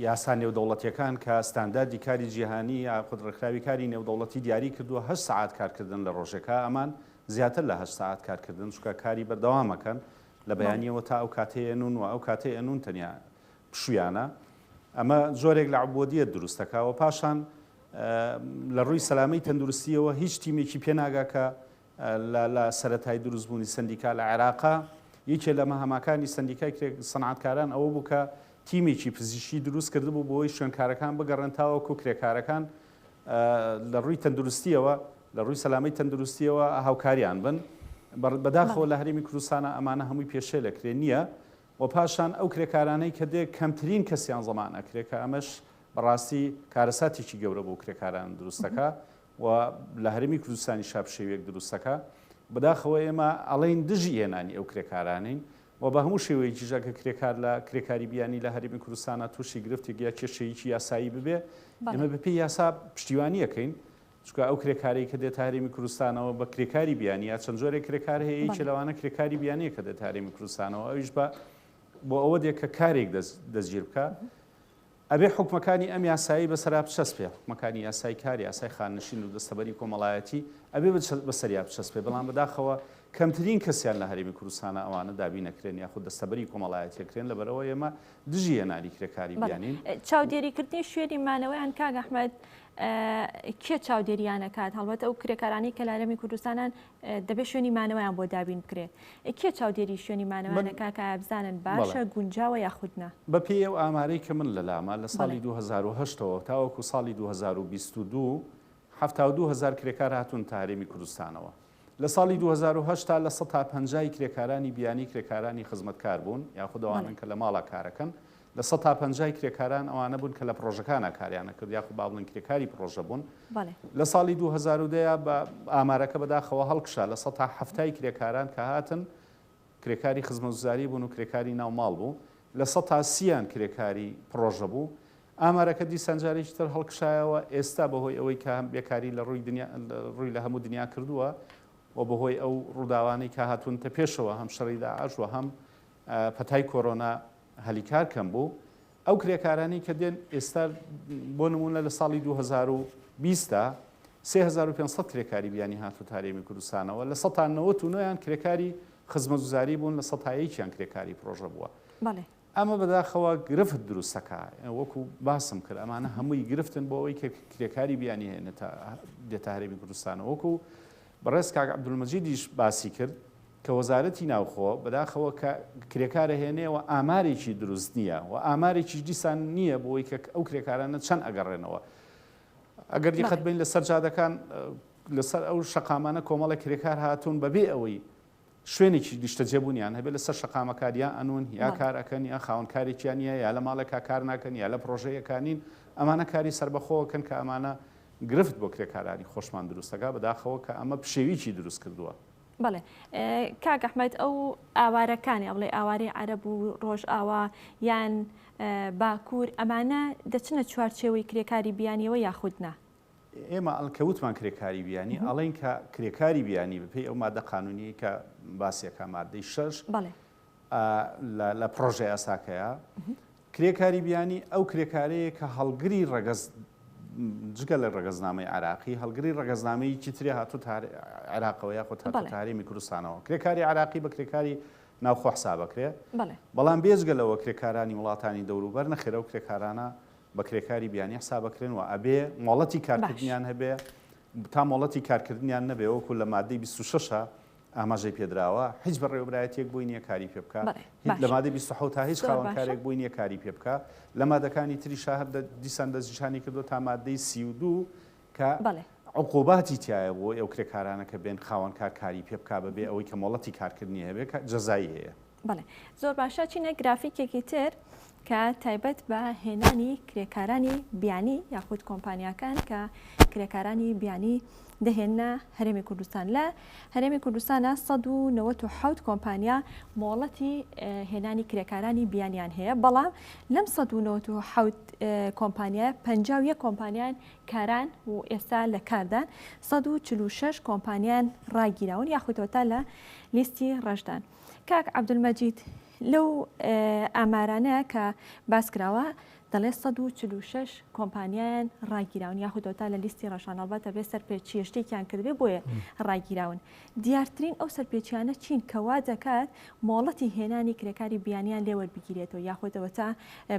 یاسا نێودەوڵەتیەکان کە ستانداردی کاری جیهانی یاخود ڕێکخراوی کاری نێودەوڵەتی دیاری کردووە هە سعات کارکردن لە ڕۆژێکە ئەمان زیاتر لە هە سعات کارکردن چکە کاری بەردەوامەکەن لە بەیانیەوە تا ئەو کاتەی ئەنوون و ئەو کاتەی ئەنوون تەنیا پشوویانە ئەمە جۆرێک لە عبودیەت دروست دەکا و پاشان لە ڕووی سەلامەی تەندروستیەوە هیچ تیمێکی پێناگا کە لە سەتای دروستبوونی سندیکا لە عێراقا یەکێ لە مەهماکانی سندیکای کرێک سەنعاتکاران ئەوە بوو کە تیمێکی پزیشکی دروست کردبوو بۆی شوێنکارەکان بگەڕێن تاوەکو کرێکارەکان لە ڕووی تەندروستیەوە لە ڕووی سەلامەی تەندروستیەوە هاوکاریان بن بەداخەوە لە هەرێمی کوردستانە ئەمانە هەمووی پێشێ لە کرێ نییە و پاشان ئەو کرێکارانەی کە دێ کەمترین کەسیان زەمان ئەکرێ کە ئەمەش بەڕاستی کارەساتێکی گەورە بۆ کرێکاران دروستەکە و لە هەرمی کوردستانی شاپشێویەک دروستەکە بەداخەوە ئێمە ئەڵین دژی هێنانی ئەو کرێکارانین و بە هەموو شێوەیەکیش ئەگەر کرێکار لە کرێکاری بیانی لە هەرێمی کوردستانا تووشی گرفتێک یا کێشەیەکی یاسایی ببێ، ئێمە بەڵێ. بەپێی یاسا پشتیوانی ئەکەین، چونکە ئەو کرێکارەی کە دێتە هەرێمی کوردستانەوە بە کرێکاری بیانی یا چەند جۆرێک کرێکار هەیە، یەکێ بەڵێ. لەوانە کرێکاری بیانییە کە دێتە هەرێمی کوردستانەوە ئەویش بە بۆ ئەوە دێ کە کارێک دەست دەستگیر بکا، ئەبێ حوکمەکانی ئەم یاسایەی بەسەرا بچەسپێ، حوکمەکانی یاسای کار، یاسای خاننشین و دەستەبەری کۆمەڵایەتی، ئەبێ بەسەریا بچەسپێ، بەڵام بەداخەوە کەمترین کەسیان لە هەرێمی کوردستانە ئەوانە دابین ئەکرێن یاخود دەستەبەری کۆمەڵایەتی ئەکرێن، لەبەرئەوە ئێمە دژی هێنانی کرێکاری بیانین. چاودێریکردنی شوێنی مانەوەیان کاک ئەحمەد کێ چاودێریان ئەکات؟ هەڵبەت ئەو کرێکارانەی کە لە هەرێمی کوردستانن دەبێت شوێنی مانەوەیان بۆ دابین بکرێت کێ چاودێری شوێنی مانەوەیان دەکات کە ئایا بزانن باشە گونجاوە یاخود نا؟ بەپێی ئەو ئامارەی کە من لەلامە لە ساڵی دوو هەزار و هەشت ەوە تاوەکو ساڵی دوو هەزار و بیست و دوو حەفتا و دوو هەزار کرێکار هاتوونەتە هەرێمی کوردستانەوە لە ساڵی دوو هەزار و هەشت تا لە سەتا پەنجا ی کرێکارانی بیانی کرێکارانی خزمەتکار بوون یاخود ئەوانەن کە لە ماڵا کارەکەن لە سەتا پەنجای کرێکاران ئەوانە بوون کە لە پڕۆژەکانا کاریان ئەکرد یاخود با بڵێین کرێکاری پڕۆژە بوون. لە ساڵی دوو هەزار و دە بە ئامارەکە بەداخەوە هەڵکشا لە سەتا حەفتای کرێکاران کە هاتن کرێکاری خزمەوتزاری بوون و کرێکاری ناو ماڵ بوو لە سەتا سییان کرێکاری پڕۆژە بوو. ئامارەکە دیسان جارێکی تر هەڵکشایەوە ئێستا بەهۆی ئەوەی کە هەم بێکاری لە ڕووی دنیا ڕووی لە هەموو دنیا کردووە و بەهۆی ئەو ڕووداوانەی کە هاتوونتە پێشەوە هەم شەڕی داعش و هەم پەتای کۆرۆنا هەلی کار کەم بوو، ئەو کرێکارانەی کە دێن ئێستا بۆ نموونە لە ساڵی دوو هەزار و بیست دا سێ هەزار و پێنج سەد کرێکاری بیانی هاتووەتە هەرێمی کوردستانەوە، لە سەتا نەوەت و نۆ یان کرێکاری خزمەتگوزاری بوون، لە سەتا یەکیان کرێکاری پڕۆژە بووە. بەڵێ. ئەمە بەداخەوە گرفت دروست دەکا، وەکو باسم کرد ئەمانە هەمووی گرفتن بۆ ئەوەی کە کرێکاری بیانی هێنێتە دێتە هەرێمی کوردستانەوە، وەکو بەڕێز کاک عەبدولمەجیدیش باسی کرد، کە وەزارەتی ناوخۆ بەداخەوە کە کرێکارە هێنێەوە ئامارێکی دروست نییە و ئامارێکیش دیسان نییە بۆی کە ئەو کرێکارانە چەند ئەگەڕێنەوە ئەگەر دیقەت بین لە سەرجادەکان لەسەر ئەو شقامانە کۆمەڵە کرێکار هاتوون بەبێ ئەوەی شوێنێکی نیشتەجێبوونیان هەبێت لە سەر شقامەکار یا ئەنون یا کارەکەن یا خاونکارێکیان یا یا لە ماڵێکا کار ناکەن یا لە پرۆژەیەکانین ئەمانە کاری سربەخۆکەن کە ئەمانە گرفت بۆ کرێکارانی خۆشمان دروستەکە بەداخەوە کە ئەمە پشێویی دروست کردووە. بەڵێ کاک ئەحمەد ئەو ئاوارەکانی ئەڵێ ئاوارەی عەرەب و ڕۆژئاوا یان باکوور ئەمانە دەچنە چوارچێوەی کرێکاری بیانیەوە یاخودنا ئێمە ئەلکەوتمان کرێکاری بیانی ئەڵین کە کرێکاری بیانی بپی ئەو مادە قانونیە کە باسیەکە مادەی شەش بەڵێ لە پڕۆژە یاساکەیە کرێکاری بیانی ئەو کرێکارەیە کە هەڵگری ڕەگەز جگە لە ڕگەزنامەی عراقی هەڵگری ڕگەزنامەی چیتری هاتوو عراقەوە یاخۆ تاریمی کوردستانەوە کرێکاری عراقی بە کرێکاری ناوخۆ حسا بکرێ بەڵام بێزگە لەوە کرێکارانی وڵاتانی دەوروبەر نەخێرە و کرێکارانە بە کرێکاری بیانی حسا بکرێن و ئەبێ مۆڵەتی کارکردنیان هەبێ تا مۆڵەتی کارکردنیان نەبێ وەکو لە مادەی 26ە ئاماژەی پێدراوە، هیچ بەڕێوەبرایەتییەک بۆی نییە کاری پێ بکا، بەڵێ، هیچ لە باشە. مادەی بیست و حەوت هیچ زۆر باشە. خاوەنکارێک بۆی نییە کاری پێ بکا، لە مادەکانی تریشا هەر دە دیسان دەستنیشانی کردووە تا مادەی سی و دوو کە بەڵێ. عقوباتی تیایە بۆ ئەو کرێکارانە کە بێن خاوەنکار کاری پێ بکا بە بێ ئەوەی کە مۆڵەتی کارکردنی هەبێ کە جەزایی هەیە. بەڵێ زۆر باشە چینە گرافیکێکی تر کە تایبەت بە هێنانی کرێکارانی بیانی یاخود کۆمپانیاکان کە کرێکارانی بیانی دەهێنە هەرێمی کوردستان لە هەرێمی کوردستانە 1970 کۆمپانیا مۆڵەتی هێنانی کرێکارانی بیانیان هەیە بەڵام لەم 1970 کۆمپانیا 51 کۆمپانیان کاران و ئێستا لە کاردان 146 کۆمپانیان ڕاگیراون یاخودۆتا لە لیستی ڕژدان. کاک عەبدولمەجید لەو ئامارانە کە باس کراوە دەڵێ 146 کۆمپانیایان ڕاگیراون یاخودۆتا لە لیستی ڕەشان ئەڵبەتە بێ سەرپێچیە شتێکیان کردێ بۆیە ڕاگیراون دیارترین ئەو سەرپێچیانە چین کەوا دەکات مۆڵەتی هێنانی کرێکاری بیانیان لێوەربگیرێتەوە یاخۆتەوە تا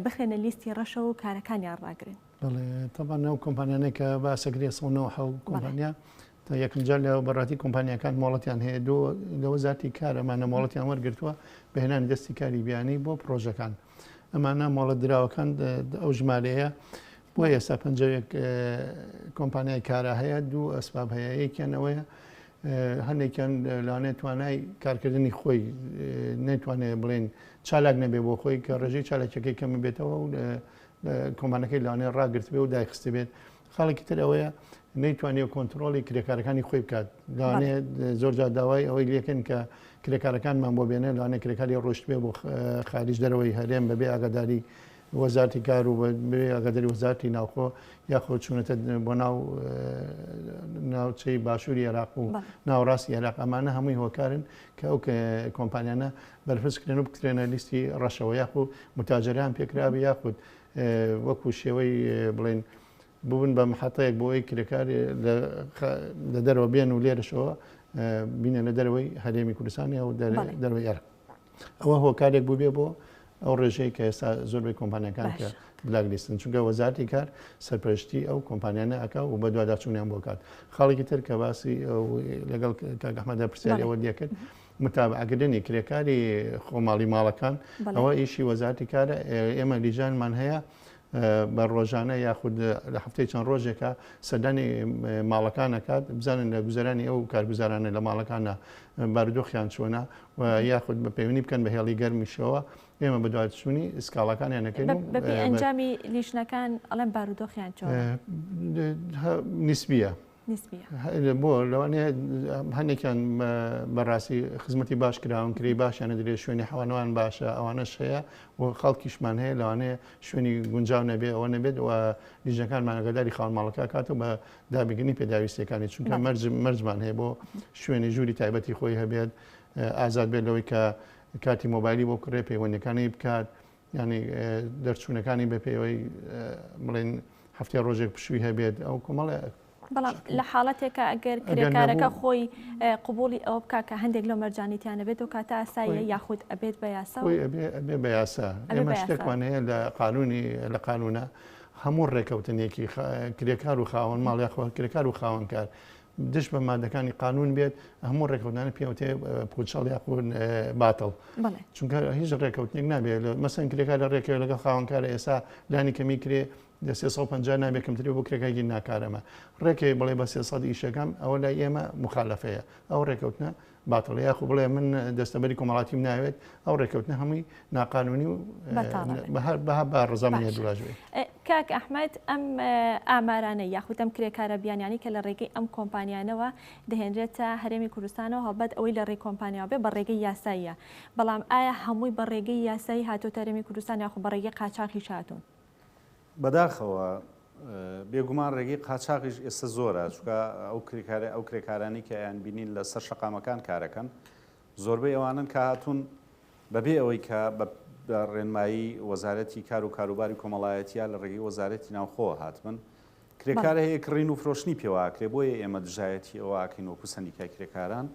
بخرێنە لیستی ڕەشە و کارەکانیان ڕاگرن تەبان ئەو کۆمپانیانێک کە باسەگرێ 1970 کۆمپانیا تا یەکمجار لە بەڕاتی کۆمپانیاکان مۆڵەتیان هەیە دو لە وەزارتی کار ئەمانە مۆڵەتیان وەرگرتووە بە هێنانی دەستی کاری بیانی بۆ پرۆژەکان ئەمانە مۆڵەت دراوەکان ئەو ژمارەیە بۆ ئێستا پنجەوێک کۆمپانیای کارە هەیە دوو ئەسباب هەیە یەکیانەوەیە هەندێکیان لەوانێ توانای کارکردنی خۆی نەیتوانێت بڵێن چالاک نەبێ بۆ خۆی کە ڕێژەی چالاکەکەی کەمە بێتەوە و کۆمانەکەی لەوانێ ڕاگررت بێ و دایخست بێت خاڵێکی تر ئەوەیە نەیتوانێت کۆنتترۆڵی کرێکارەکانی خۆی بکات لەوانێ زۆرجار داوای ئەوەی لەکەن کە کرێکارەکانمان بۆ بێنێ لەوانێ کرێکاری ڕۆشتبێ بۆ خارج دەرەوەی هەرێم بەبێ ئاگاداری وەزارتی کار و ئەگەدەری وەزارتی ناوخۆ یاخۆ چوونەتە بۆ ناو ناوچەی باشووری عێراق و ناوڕاستی عێراق ئەمانە هەمووی هۆکارن کە ئەو کۆمپانیانە بەرفسکرێن و بکرێنە لیستی ڕەشەوە یاخود متاجران پێکراوی یاخود وەکو شێوەی بڵێن ببن بە محەتەیەک بۆ ئەوی کرێکار لە دەرەوە بێن و لێرەشەوە بینە لە دەرەوەی هەرێمی کوردستانی ئەو دەرەوەی ئەرق ئەوە هۆکارێک بووبێ بۆ ئەو ڕێژەیە کە ئێستا زۆربەی کۆمپانیەکان کە بلاگلیستن چونکە وەزارتی کار سەرپەرشتی ئەو کۆمپانیانە ئەک و بە دوواداچوونیان بۆکات خاڵێکی تر کە باسی لەگەڵ کاگەحمەدا پرسیارەوە دەکرد متابعە کردنی کرێکاری خۆماڵی ماڵەکان ئەوە ئیشی وەزارتی کارە ئێمە لیژانمان هەیە بە ڕۆژانە یاخود لە هەفتەی چەند ڕۆژێکە سەدانی ماڵەکان نکات بزانن لە گوزارانی ئەو کارگوزارانە لە ماڵەکانە بارودۆخیان چۆنا و یاخود بە پەیوەنی بکەن بە هێڵی گەرمیشەوە ئێمە بەدواتچوونی سکاڵەکانیان نەکەین بەپی ئەنجامی لیشنەکان ئەڵێن بارودۆخیان چۆن نسبیە نسبیە. بۆ لەوانەیە هەندێکیان بەڕاستی خزمەتی باش کراون کری باشیانە درێ شوێنی حەوانەوان باشە ئەوانەش هەیە و خەڵکیشمان هەیە لەوانەیە شوێنی گونجاو نەبێ ئەوە نەبێت و لیژەکانمان ئەگەداری خاون ماڵەکە کات و بە دابگرنی پێداویستەکانی چونکە مەرج مەرجمان هەیە بۆ شوێنی ژووری تایبەتی خۆی هەبێت ئازاد بێت لەوەی کە کاتی مۆبایلی بۆ کڕێ پەیوەندەکانی بکات یانی دەرچوونەکانی بە پێوەی بڵێن هەفتێ ڕۆژێک پشووی هەبێت ئەو کۆمەڵێ بەڵام لە حاڵەتێکە ئەگەر کرێکارەکە خۆی قوبولی ئەوە بک کە هەندێک لە مەرجانیتیانە بێت و کاتە ئاساییە یاخود ئەبێت بە یاسا بێ بە یاسا ئێمە شتێکمان هەیە لە قانونی لە قانونە هەموو ڕێکەوتنێکی کرێکار و خاوەن ماڵیاخۆ کرێکار و خاوەنکار دژ بە مادەکانی قانون بێت هەموو ڕێککەوتانە پێوتێ پوچەڵ یاخود باتڵ چونکە هیچ ڕێککەوتنێک نابێت مەسەن کرێکا لە ڕێکەوە لەگەڵ خاوەنکارە ئێستا لانی کەمی کرێ لە 350 نابێت کەمتری بۆ کرێکایگی ناکارەمە ڕێکەوە بڵێ بە 300 ئیشەکەم ئەوە لای ئێمە مخالفەیە ئەو ڕێککەوتنە باتڵە یاخو بڵێ من دەستەبەری کۆمەڵاتیم ناوێت ئەو ڕێککەوتنە هەمووی ناقانونی و بەها بە ڕزامانە دواژێ کاک ئەحمد ئەم ئامارانە یاخودەم کرێکارە بیانیانی کە لە ڕێگەی ئەم کۆمپانیانەوە دەهێنرێتە هەرێمی کوردستانەوە هەڵبەت ئەوەی لە ڕێ کۆمپانیاوە بێ بە ڕێگەی یاساییە بەڵام ئایا هەمووی بە ڕێگەی یاسایی هاتۆ تەرمی کوردستان یاخو بە ڕێگەی قاچاقی شاتون بەداخەوە بێگومان ڕێگەی قاچاغیش ئێستا زۆرە چکە ئەو کرێکارە ئەو کرێکارانی کە یان بینین لە سەر شەقامەکان کارەکەن زۆربەی ئەوانن کە هاتوون بەبێ ئەوەی کە بە ڕێنمایی وەزارەتی کار و کاروباری کۆمەڵایەتیا لە ڕێگەی وەزارەتی ناوخۆ هاتبن کرێکارە هەیە کڕین و فرۆشتنی پێواکرێ بۆیە ئێمە دژایەتی ئەوواکەین وەکو سەندیکای کرێکاران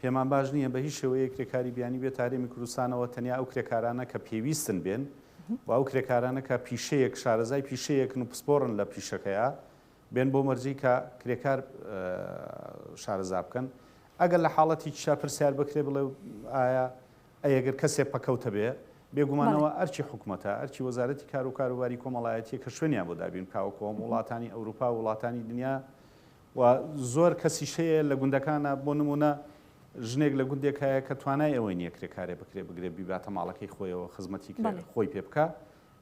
پێمان باش نییە بە هیچ شێوەیەک کرێکاری بیانی بێتە هەرێمی کوردستانەوە، تەنیا ئەو کرێکارانە کە پێویستن بێن و ئەو کرێکارانە کە پیشەیەک، شارەزای پیشەیەکن و پسپۆڕن لە پیشەکەیا بێن بەو مەرجەی کە کرێکار شارەزا بکەن. ئەگەر لە حاڵەتێکیشا پرسیار بکرێ بڵێ ئایا ئەی ئەگەر کەسێک پەکەوتە بێ، بێگومانەوە بەڵێ. ئەرکی حکومەتە، ئەرکی وەزارەتی کار و کاروباری کۆمەڵایەتییە کە شوێنیان بۆ دابین بکا وەکوو هەموو وڵاتانی ئەوروپا و وڵاتانی دنیا و زۆر کەسیش هەیە لە گوندەکانا بۆ نموونە ژنێک لە گوندێک هەیە کە توانای ئەوەی نییە کرێکارێ بکرێ بگرێ بیباتە ماڵەکەی خۆیەوە خزمەتی کرێ بەڵێ. خۆی پێ بکا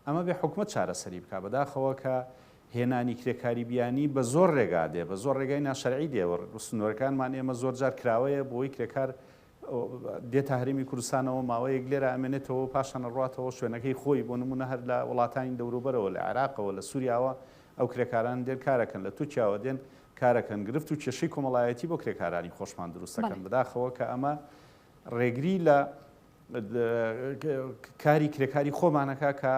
ئەمە بێ حکومەت چارەسەری بکا بەداخەوە کە هێنانی کرێکاری بیانی بە زۆر رێگا دێ بە زۆر رێگای ناشەرعی دێ و سنوورەکانمان ئێمە زۆر جار کراوەیە بۆی کرێکار دێتە هەرێمی کوردستانەوە، ماوەیەک لێرە ئەمێنێتەوە و پاشان ئەڕواتەوە شوێنەکەی خۆی، بۆ نموونە هەر لە وڵاتانی دەوروبەرەوە، لە عێراقەوە، لە سووریاوە ئەو کرێکارانە دێن کارەکەن، لە تورکیاوە دێن کارەکەن، گرفت و کێشەی کۆمەڵایەتی بۆ کرێکارانی خۆشمان دروست ئەکەن، بەداخەوە کە ئەمە ڕێگری لە کاری کرێکاری خۆمان ئەکات کە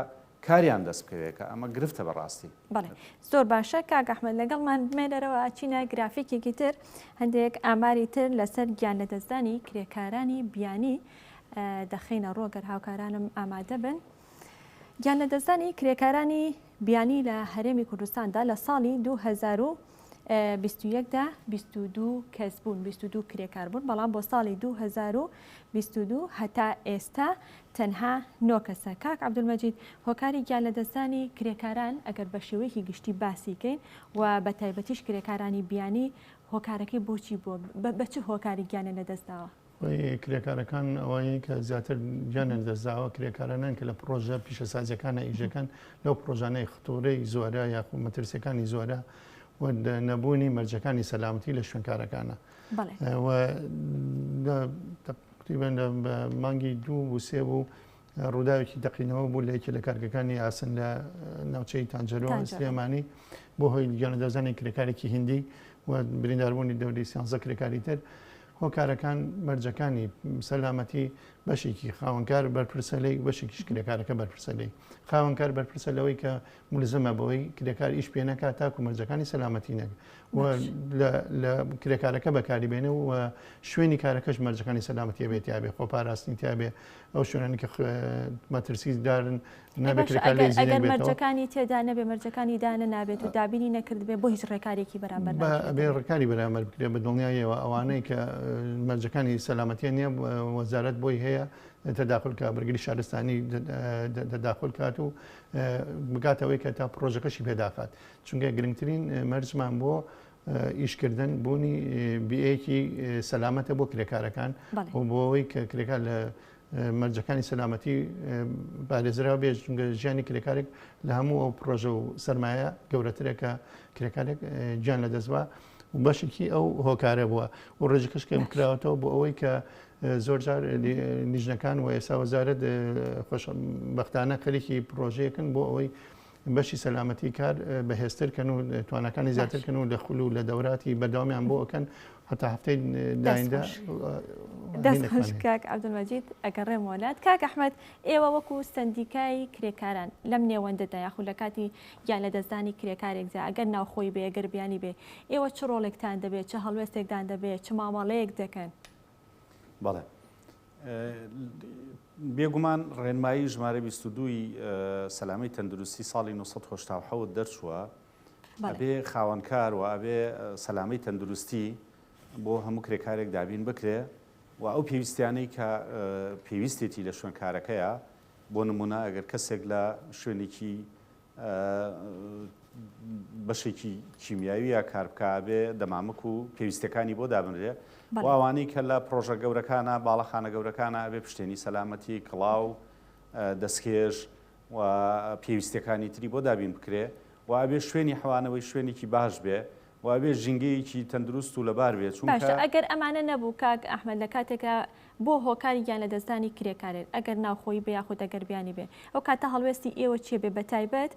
کاریان دەست بکەوێ کە ئەمە گرفتە بەڕاستی. بەڵێ زۆر باشە کاک ئەحمەد لەگەڵمان بمێ لەرەوە ئەچینە گرافیکێکی تر هەندێک ئاماری تر لەسەر گیان لەدەستدانی کرێکارانی بیانی دەخەینە ڕوو گەر هاوکارانم ئامادە بن گیان لەدەستدانی کرێکارانی بیانی لە هەرێمی کوردستاندا لە ساڵی 2000 بیست و یەک دا بیست و دوو کەس بوون بیست و دوو کرێکار بوون بەڵام بۆ ساڵی دوو هەزار و بیست و دوو هەتا ئێستا تەنها نۆ کەسە کاک عەبدولمەجید هۆکاری گیان لەدەستدانی کرێکاران ئەگەر بە شێوەیەکی گشتی باسی کەین و بە تایبەتیش کرێکارانی بیانی هۆکارەکەی بۆچی بووە بە بە چ هۆکاری گیانیان لەدەستداوە کرێکارەکان ئەوەیە کە زیاتر گیانیان دەزاوە کرێکارانان کە لە پرۆژە پیشەسازیەکانە ئیژەکان لەو پرۆژانەی خطورەی زۆرە یاخو مەترسیەکانی زۆرە نەبوونی مەرجەکانی سەلامتی لە شوێنکارەکانە تقریبان لە مانگی دوو وسێ بوو ڕووداوێکی تەقینەوە بوو لە یەکێ لە کارگەکانی ئاسن لە ناوچەی تانجەرۆ سلێمانی بۆ هۆی گیانەدەزانی کرێکارێکی هندی و برینداربوونی دەوری سیانزە کرێکاری تر هۆکارەکان مەرجەکانی سەلامەتی بەشێکی خاوەنکار بەرپرسە لی بەشێکیش کرێکارەکە بەرپرسە لی خاوەنکار بەرپرسە لەوەی کە ملزمە بەوەی کرێکار ئیش پێ نەکات تاکو مەرجەکانی سەلامەتی نەک لە کرێکارەکە بەکاری بێنە و شوێنی کارەکەش مەرجەکانی سەلامەتی بێت یاێ خۆ پاراستنی تابێ ئەو شوێنانی کە مەترسی دارن نابێتەکانی تێدا نەبێ مەرجەکانی دانە نابێت و دابینی نەکردبێ بۆ هیچ ڕێکارێکی بەرامبەر بێ ڕێکاری بەرامەر بکرێ بە دڵنیایەوە ئەوانەی کە مەرجەکانی سەلامەتیە نییە وەزارت بۆی هەیە تەداخلکە بەرگری شارستانی تەداخل کات و بگاتە ئەوەی کە تا پڕۆژەکەشی پێداخات چونکە گرنگترین مەرجمان بۆ ئیشکردن بوونی بیەیەکی سەلامەتە بۆ کرێکارەکان و بۆەوەی کە کرێکار لە مەرجەکانی سەلامەتی بارێزرا بێژ چونگە ژیانی کرێکارێک لە هەموو ئەو پرۆژە و سرمایە گەورەترێکە کرێکارێک گیان لە دەستوە و بەشێکی ئەو هۆکارە بووە و ڕێژەکەش کەم کراوەتەوە بۆ ئەوەی کە زۆرجار لیژنەکان و ئێستا وەزارەت خۆشبەختانە خەریکی پرۆژەیەکن بۆ ئەوەی بەشی سەلامەتی کار بەهێزتر کەن و توانەکانی زیاتر کەن و لە خول و لە دەوراتی بەردەوامیان بۆ ئەەکەن هەتا هەفتەی دایندا دەستکاک عبدمەجید ئەگەر ڕێم وەلات کاک ئەحمد ئێوە وەکو سندیکای کرێکاران لەم نێوەندەدا یاخود لە کاتی گیان لە دەستدانی کرێکارێکدا ئەگەر ناوخۆی بێ گەربیانی بێ ئێوە چ ڕۆڵێکتان دەبێت چه هەڵوێستێکدان دەبێت چ مامەڵەیەک دەکەن بەڵێ بێگومان ڕێنمایی ژمارە 22ی سەلامەی تەندروستی ساڵی 1970 دەرچووە ئەبێ خاوەنکار و ئەبێ سەلامەی تەندروستی بۆ هەموو کرێکارێک دابین بکرێ و ئەو پێویستیانەی کە پێویستێتی لە شوێنکارەکەیە بۆ نمونە ئەگەر کەسێک لە شوێنێکی بەشێکی کیمیاوی یا کاربکە ئەبێ دەمامک و پێویستەکانی بۆ دابنرێ و ئەوانەی کە لە پرۆژە گەورەکانە باڵەخانە گەورەکانە ئەبێ پشتێنی سەلامەتی کڵاو دەستکێش و پێویستەکانی تری بۆ دابین بکرێ و ئەبێ شوێنی حەوانەوەی شوێنێکی باش بێ وابێ ژینگەیەکی تەندروست و لەبار بێت چونکە ئەگەر ئەمانە نەبوو کاک ئەحمد لە کاتێکە بۆ هۆکاری گیان لەدەستدانی کرێکارێک ئەگەر ناوخۆیی بێ یاخود ئەگەر بیانی بێ ئەو کاتە هەڵوێستی ئێوە چیە بێ بەتایبەت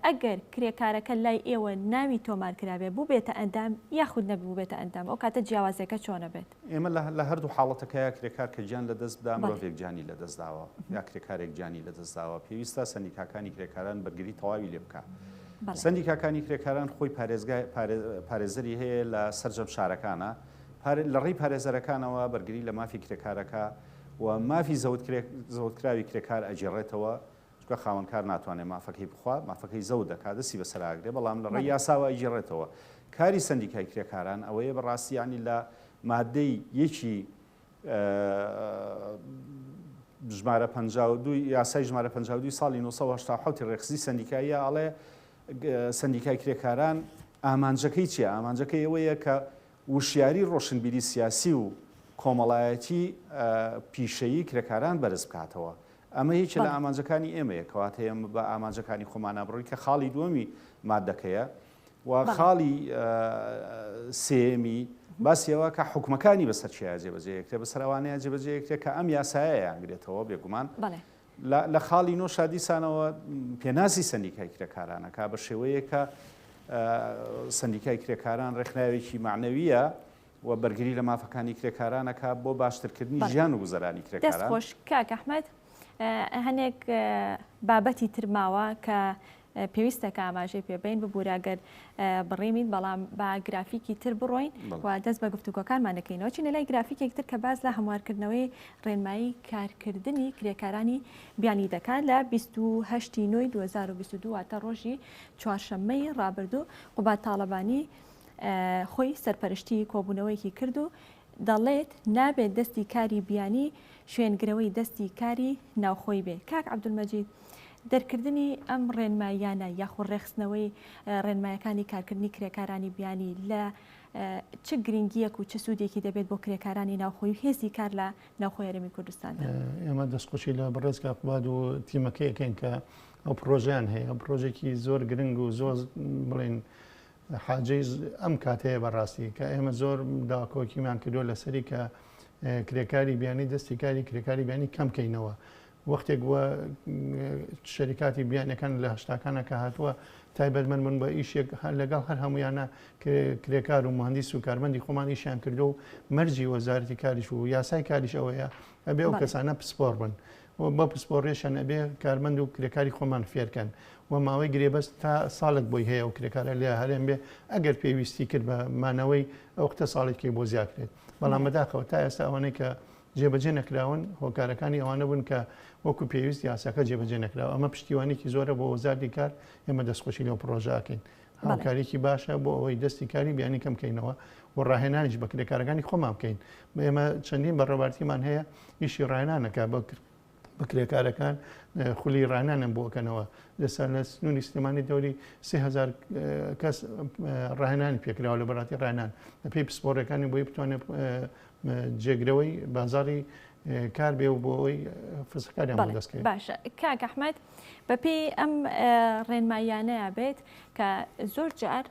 ئەگەر کرێکارەکە لای ئێوە ناوی تۆمار کرابێ بوبێتە ئەندام یاخود نەک بوبێتە ئەندام ئەو کاتە جیاوازیەکە چۆنە بێت؟ ئێمە لە هەردوو حاڵەتەکە یا کرێکار کە گیان لەدەست بدا مرۆڤێک گیانی لەدەست داوە یا کرێکارێک گیانی لەدەست داوە پێویستە سەندیکاکانی کرێکاران بەرگری تەواوی لێ بکا سەندیکاکانی کرێکاران خۆی پارێزگای پارێزەری هەیە لە سەرجەم شارەکانە. لە ڕێی پارێزەرەکانەوە بەرگری لە مافی کرێکارەکە و مافی زەوتکراوی کرێکار ئەگێڕێتەوە، چونکە خاوەنکار ناتوانێت مافەکەی بخوا، مافەکەی زەوت دەکات، دەستی بەسەر ئاگرێ، بەڵام لە ڕێی یاساوە ئەیگێڕێتەوە. کاری سەندیکای کرێکاران ئەوەیە بە ڕاستی یانی لە ماددەی یەکی ژمارە پەنجا و دوو یاسای ژمارە پەنجا و دوو ی ساڵی نۆ سەد و هەشتا و حەوت ی ڕێکخزی سەندیکاییە ئەڵێ، سەندیکای کرێکاران ئامانجەکەی چیە؟ ئامانجەکەی ئەوەیە کە وشیاری ڕۆشنبیری سیاسی و کۆمەڵایەتی پیشەیی کرێکاران بەرز بکاتەوە. ئەمە یەکێ لە ئامانجەکانی ئێمەیە کەواتە ئێمە بە ئامانجەکانی خۆمانە بڕۆین کە خاڵی دووەمی مادەکەیە و خاڵی سێمی باسیەوە کە حکومەکانی بەسەر چیا جێبەجێکرێ بەسەر ئەوانەیە جێبەجێکرێ کە ئەم یاسایە یانگرێتەوە بێگومان لە خاڵی نۆ شا دیسانەوە پێناسی سەندیکای کرێکارانە کا بە شێوەیە کە سندیکای کرێکاران ڕێکخراوێکی معنەویە و بەرگری لە مافەکانی کرێکارانەکە بۆ باشترکردنی ژیان و گوزەرانی کرێکاران خۆش کاکەحمد هەنێک بابەتی ترماوە کە پێویستە کە ئاماژەی پێ بەین ببورە گەر بڕیمین بەڵام با گرافیکی تر بڕۆین و دەست بە گفتوگۆکانمان دەکەینەوە چینە لای گرافیکێک تر کە باز لە هەموارکردنەوەی ڕێنمایی کارکردنی کرێکارانی بیانی دەکات لە 28 نوی 2022 واتە ڕۆژی چوارشەممەی ڕابردوو قوبات تاڵەبانی خۆی سەرپەرشتی کۆبوونەوەیەکی کرد و دەڵێت نابێت دەستی کاری بیانی شوێنگرەوەی دەستی کاری ناوخۆی بێ کاک عبدالمەجید دەرکردنی ئەم ڕێنماییانە یاخۆ ڕێخستنەوەی ڕێنمایەکانی کارکردنی کرێکارانی بیانی لە چ گرنگیەک و چ سوودێکی دەبێت بۆ کرێکارانی ناوخۆی هێزی کار لە ناوخۆی هەرمی کوردستان ئێمە دەستخۆشی لە بەڕێزگا قوباد و تیمەکەیەکەن کە ئەو پرۆژیان هەیە پرۆژێکی زۆر گرنگ و زۆر بڵێن حاجی ئەم کاتەیە بەڕاستی کە ئێمە زۆر داکۆکیمان کردووە لەسەری کە کرێکاری بیانی دەستی کاری کرێکاری بیانی کەم کەینەوە وەختێک وە شەریکاتی بیانەکان لە هشتاکانە کە هاتووە تایبەتمەند من بە ئیشێک لەگەڵ هەر هەمویانە کرێکار و مهندیس و کارمەندی خۆمانیشیان کردو و مەرجی وەزارتی کاریش و یاسای کاریش ئەوەیە ئەبێ ئەو کەسانە پسپۆر بن و بە پسپۆڕیشیان ئەبێ کارمەند و کرێکاری خۆمان فێرکەن و ماوەی گرێبەست تا ساڵێک بۆی هەیە و کرێکارە لێ هەرێم بێ ئەگەر پێویستی کرد بە مانەوەی ئەو قتە ساڵێکی بۆ زیاکرێت بەڵام بەداخەوە تا ئێستا ئەوانەی کە جێبەجێ نەکراون هۆکارەکانی ئەوانە بوون کە وەکو پێویست یاساکە جێبەجێ نەکراوە ئەمە پشتیوانێکی زۆرە بۆ وەزارتی کار ئێمە دەستخۆشی لەو پرۆژاکەین هاوکاریکی باشە بۆ ئەوەی دەستی کاری بیانی کەم بکەینەوە و ڕاهێنانیش بە کرێکارەکانی خۆمان بکەین بە ئێمە چەندین بە ڕێوارتیمان هەیە ئیشی ڕاهێنانەکە بە کرد بکرێکارەکان خولی ڕانانم بۆکەنەوە لەسەر لە سنووری سلێمانی دەوری سهزار کەس ڕاهێنانی پێکراوە لە بەڕاتی ڕانان پێی پسپۆڕەکانی بۆی بتوانێت جێگرەوەی بازاری کار بێ و بۆ ئەوی فسکاریان دەستکرد باشە کاکەحمد بە پێی ئەم ڕێنماییانەیە بێت کە زۆر جار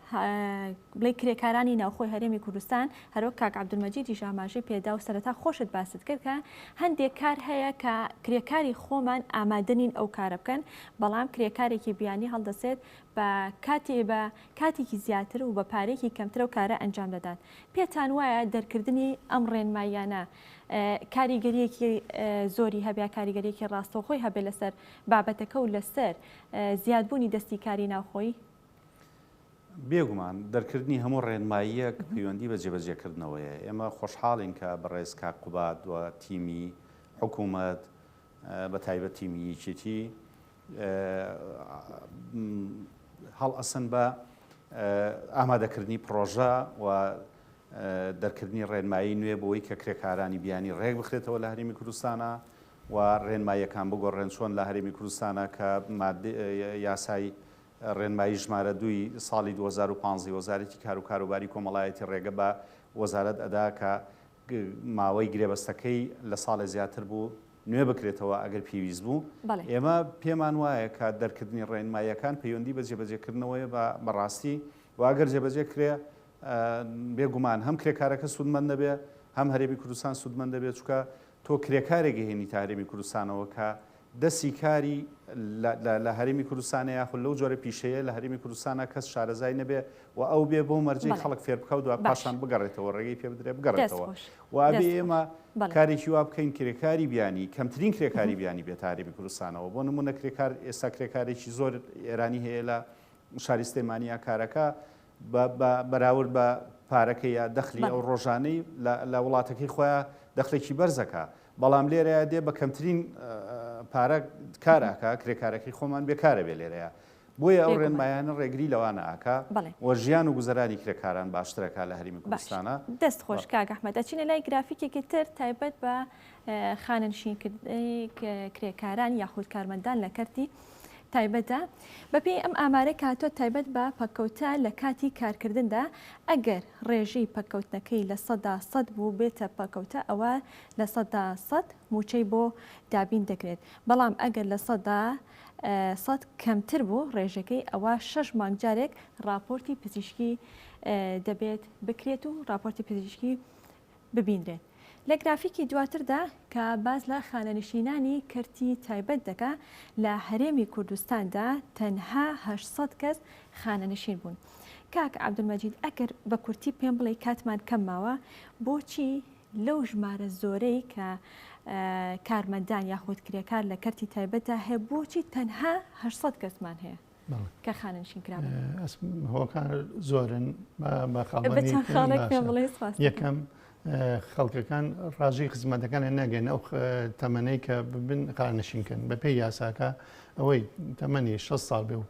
بڵێ کرێکارانی ناوخۆی هەرێمی کوردستان هەرۆک کاک عبدمەجیدی ژاماژەی پێدا و سەرەتا خۆشت باست کرد کە هەندێک کار هەیە کە کرێکاری خۆمان ئامادەنین ئەو کارە بکەن بەڵام کرێکارێکی بیانی هەڵدەسێت بە کاتی بە کاتێکی زیاتر و بە پارێکی کەمترە و کارە ئەنجام دەدات پێتان وایە دەرکردنی ئەم ڕێنماییانە کاریگەرییەکی زۆری هەبێ، کاریگەرییەکی ڕاستەوخۆی هەبێ لەسەر بابەتەکە و لەسەر زیادبوونی دەستی کاری ناوخۆیی؟ بێگومان دەرکردنی هەموو ڕێنماییەک پەیوەندی بە جێبەجێکردنەوەیە. ئێمە خۆشحاڵین کە بەڕێز کاک قوباد و تیمی حکوومەت بە تایبەت تیمی یەکێتی هەڵئەستن بە ئامادەکردنی پڕۆژە و دەرکردنی ڕێنمایی نوێ بۆی کە کرێکارانی بیانی ڕێک بخرێتەوە لە هەرێمی کوردستانە و ڕێنماییەکان بگۆڕێن چۆن لە هەرێمی کوردستانە کە یاسای ڕێنمایی ژمارە دوی ساڵی 2015 وەزارەتی کار و کاروباری کۆمەڵایەتی ڕێگە بە وەزارەت ئەدا کە ماوەی گرێبەستەکەی لە ساڵێ زیاتر بوو نوێ بکرێتەوە ئەگەر پێویست بوو. ئێمە پێمان وایە کە دەرکردنی ڕێنماییەکان پەیوەندی بە جێبەجێکردنەوەیە بە بەڕاستی و ئەگەر جێبەجێ کرێ بێ گومان هەم کرێکارەکە سوودمەند دەبێ هەم هەرێمی کوردستان سوودمەند دەبێت چونکە تۆ کرێکارێک ئەهێنیتە هەرێمی کوردستانەوە کە دەستی کاری لە لە هەرێمی کوردستانە یاخود لەو جۆرە پیشەیە لە هەرێمی کوردستانە کەس شارەزای نەبێ و ئەو بێ بۆ مەرجەی بەڵێ خەڵک فێر بکا و دوا باش پاشان بگەڕێتەوە ڕێگەی پێ بدرێ دەست بگەڕێتەوە خۆش و ئەبێ دەست خۆش ئێمە بەڵێ. کارێکی وا بکەین کرێکاری بیانی کەمترین کرێکاری بیانی بێتە هەرێمی کوردستانەوە بۆ نموونە کرێکار ئێستا کرێکارێکی زۆر ئێرانی هەیە لە شاری سلێمانی یا کار ئەکا بە بە بەراورد بە پارەکەی یا دەخلی بەڵێ. ئەو ڕۆژانەی لە لە وڵاتەکەی خۆیان دەخلێکی بەرز ئەکا بەڵام لێرەیا دێ بە کەمترین پارە کار ئەکا کرێکارەکەی خۆمان بێکارە بێ لێرەیە بۆیە ئەو ڕێنمایانە ڕێگری لەوانە ئاکا و ژیان و گوزەرانی کرێکاران باشترەکە لە هەرمی کوردستانە دەست خۆش کاک ئەحمەد ئەچینە لای گرافیکێکی تر تایبەت بە خانەنشینکردنی کرێکاران یاخود کارمەندان لە کەرتی تایبەتە بەپێی ئەم ئامارە کاتۆ تایبەت بە پەککەوتە لە کاتی کارکردندا ئەگەر ڕێژەی پەککەوتنەکەی لە سەدا سەد بوو بێتە پەکەوتە ئەوە لە سەدا سەد مووچەی بۆ دابین دەکرێت، بەڵام ئەگەر لە سەدا سەد کەمتر بوو ڕێژەکەی ئەوا شەش مانگ جارێک ڕاپۆرتی پزیشکی دەبێت بکرێت و ڕاپۆرتی پزیشکی ببینرێت. لە گرافیکی دواتردا کە باس لە خانەنشینانی کەرتی تایبەت دەکا لە هەرێمی کوردستاندا تەنها 800 کەس خانەنشین بوون. کاک عەبدولمەجید ئەگەر بە کورتی پێم بڵێی کاتمان کەم ماوە بۆچی لەو ژمارە زۆرەی کە کارمەندان یاخود کرێکار لە کەرتی تایبەتدا هەیە بۆچی تەنها 800 کەسمان هەیە کە خانەنشین کرا هۆکار زۆرن یەکەم خەڵکەکان ڕاژەی خزمەتەکانە نەگەن ئەو تەمەەی کە ببن خانەشینکەن بە پێی یاساکە ئەوەی تەمەنی 6 ساڵ بێ و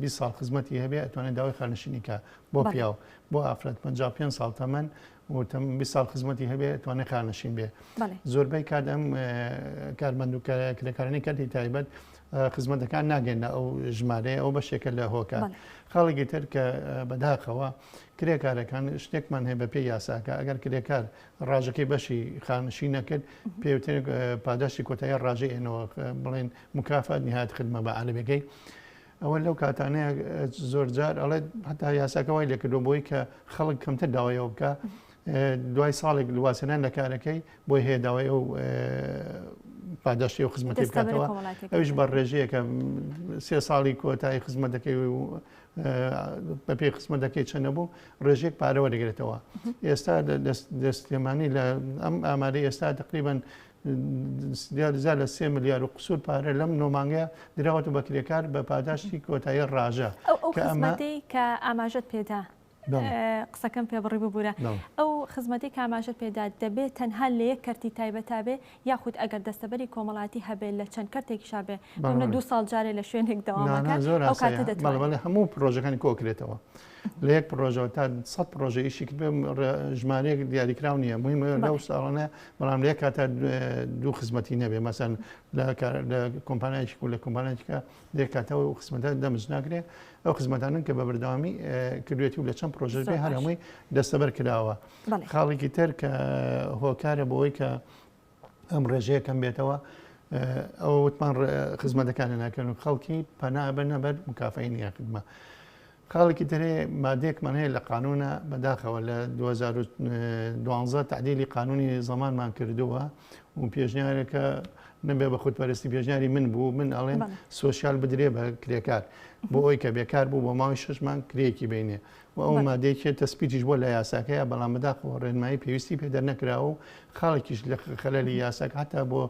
20 ساڵ خزمەتی هەبێ ئەتوانێت داوای خانشینیکە بۆ پیاو بۆ ئافرەت 55 ساڵ تەمەن وتم بیست ساڵ خزمەتی هەبێ توانێ خانەشین بێ زۆربەی کات ئەم کارمەند و کرێکارانی کەتی تایبەت خزمەتەکان ناگەێنە ئەو ژمارەیە ئەو بەشێکە لە هۆکە خاڵێکی تر کە بەداخەوە کرێکارەکان شتێکمان هەیە بە پێ یاساکە ئەگەر کرێکار ڕاژەکەی بەشی خانشی نەکرد پێوتر پاداشتی کۆتایی ڕاژەێنەوە بڵێن مکافات نهات خدمە بە عالمەکەی ئەوە لەو کاتانەیە زۆر جار ئەڵێت هەتا یاساکە وای لێکردو بۆی کە خەڵک کەمتر داوایەوە بکە دوای ساڵێک لواسێنان لە کارەکەی بۆی هەیە داوای ئەو پاداشتی و خزمەتی بکاتەوە ئەوش بە ڕێژەیەکە سێ ساڵی کۆتایی خزمەت دەکەی و بە پێی خزمە دەکەی چەنە بوو ڕێژێک پارەوە دەگرێتەوە ئێستا دەستێمانی لە ئەم ئاماری ئێستا تقریبان زیاد لە سێ ملیار و قسوور پارە لەم نۆ مانگەیە دراوەتە بە کرێکار بە پاداشتی کۆتایی ڕاژە ئەو ئەو خزمەتەی کە ئاماژەت پێدا قسەکەم پێ بڕی ببوورە ئەو خزمەتی کاماژەت پێدا دەبێت تەنها لە یەک کەرتی تایبەتابێ یاخود ئەگەر دەستەبەری کۆمەڵاتی هەبێت لە چەند کەرتێکی شابێ بەمە دو ساڵ جارێ لە شوێنێک دەوامەکە زۆر ئەو کاتە دەتوانێت هەموو پرۆژەکانی کۆکرێتەوە لە یەک پرۆژەوە تا سەد پرۆژە ئیشی کرد بێ ڕێ- ژمارەیەک دیاریکراو نییە مهمە بەڵێ. لەو ساڵانە بەڵام لە یەک کاتا دو- دوو خزمەتی نەبێ مەسەن لە کار- لە کۆمپانیایەکی و لە کۆمپانیایەکە لە یەک کاتەوە ئەو خزمەتە دەمج ناکرێ ئەو خزمەتانەن کە بە بەردەوامی اه، کردوێتی و لە چەند پرۆژەش زۆر بێ هەر باش. هەمووی دەستەبەر کراوە بەڵێ. خاڵێکی تر کە هۆکارە بۆ ئەوەی کە ئەم ڕێژەیە کەم بێتەوە ئەوە وتمان خزمەتەکانی ناکەن و خەڵکی پەنابە نەبەر مکافی نیە خدمە خاڵێکی ترێ مادێکمان هەیە لە قانونە بەداخەوە لە 2012 تعدیلی قانونی زمانمان کردووە و پێشنیارەکە نەبێ بە خودپەرستی پێشنیاری من بوو من ئەڵێن سوسیال بدرێ بە کرێکار بۆ ئەوی کە بێکار بوو بۆ ماوەی شش مانگ کرێکی بینێ و ئەو مادەی کە تەسبیتیش بووە لە یاساکەیا، بەڵام بەداخەوە ڕێنمایی پێویستی پێ دەرنەکراوە و خاڵێکیش لە خەلەلی یاساکە هەتا بۆ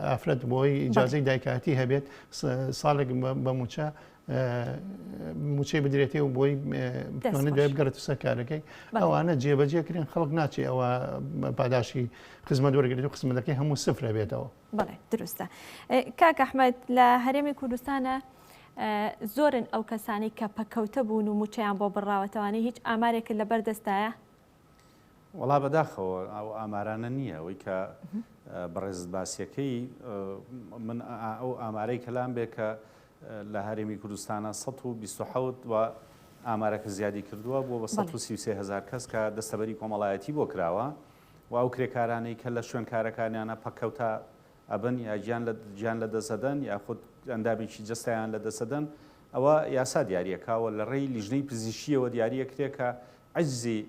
ئافرەت بۆی ئیجازەی دایکایەتی هەبێت ساڵێک بە موچە موچەی بدرێتێ و بۆی بتوانێت دوای بگەڕێت سەر کارەکەی ئەوانە جێبەجێکرێن خەڵک ناچێ ئەوە پاداشی خزمەت وەرگێت و خزمەتەکەی هەموو سفرە بێتەوە. بەڵێ دروستە کاک ئەحمەد لە هەرێمی کوردستانە زۆرن ئەو کەسانی کە پەکەوتە بوون و موچیان بۆ بڕاوەتەوانی هیچ ئامارێک لە بەردەستایە وڵا بەداخەوە ئەو ئامارانە نییە ئەوەی کە بەڕێزت باسیەکەی من ئەو ئامارەی کەلام بێ کە لە هەرێمی کوردستانە 1970 و ئامارەکە زیادی کردووە بۆ بە 1970 هزار کەس کە دەستەبەری کۆمەڵایەتی بۆ کراوە. و ئەو کرێکارانەی کە لە شوێن کارەکانیانە پەککەوتە ئەبن یا گیان لە دەست ئەدەن یاخود ئەندامێکی جەستەیان لە دەست ئەدەن ئەوە یاسا دیاری ئەکا و لە ڕێی لیژنەی پزیشکییەوە دیاری ئەکرێ کە عەجزی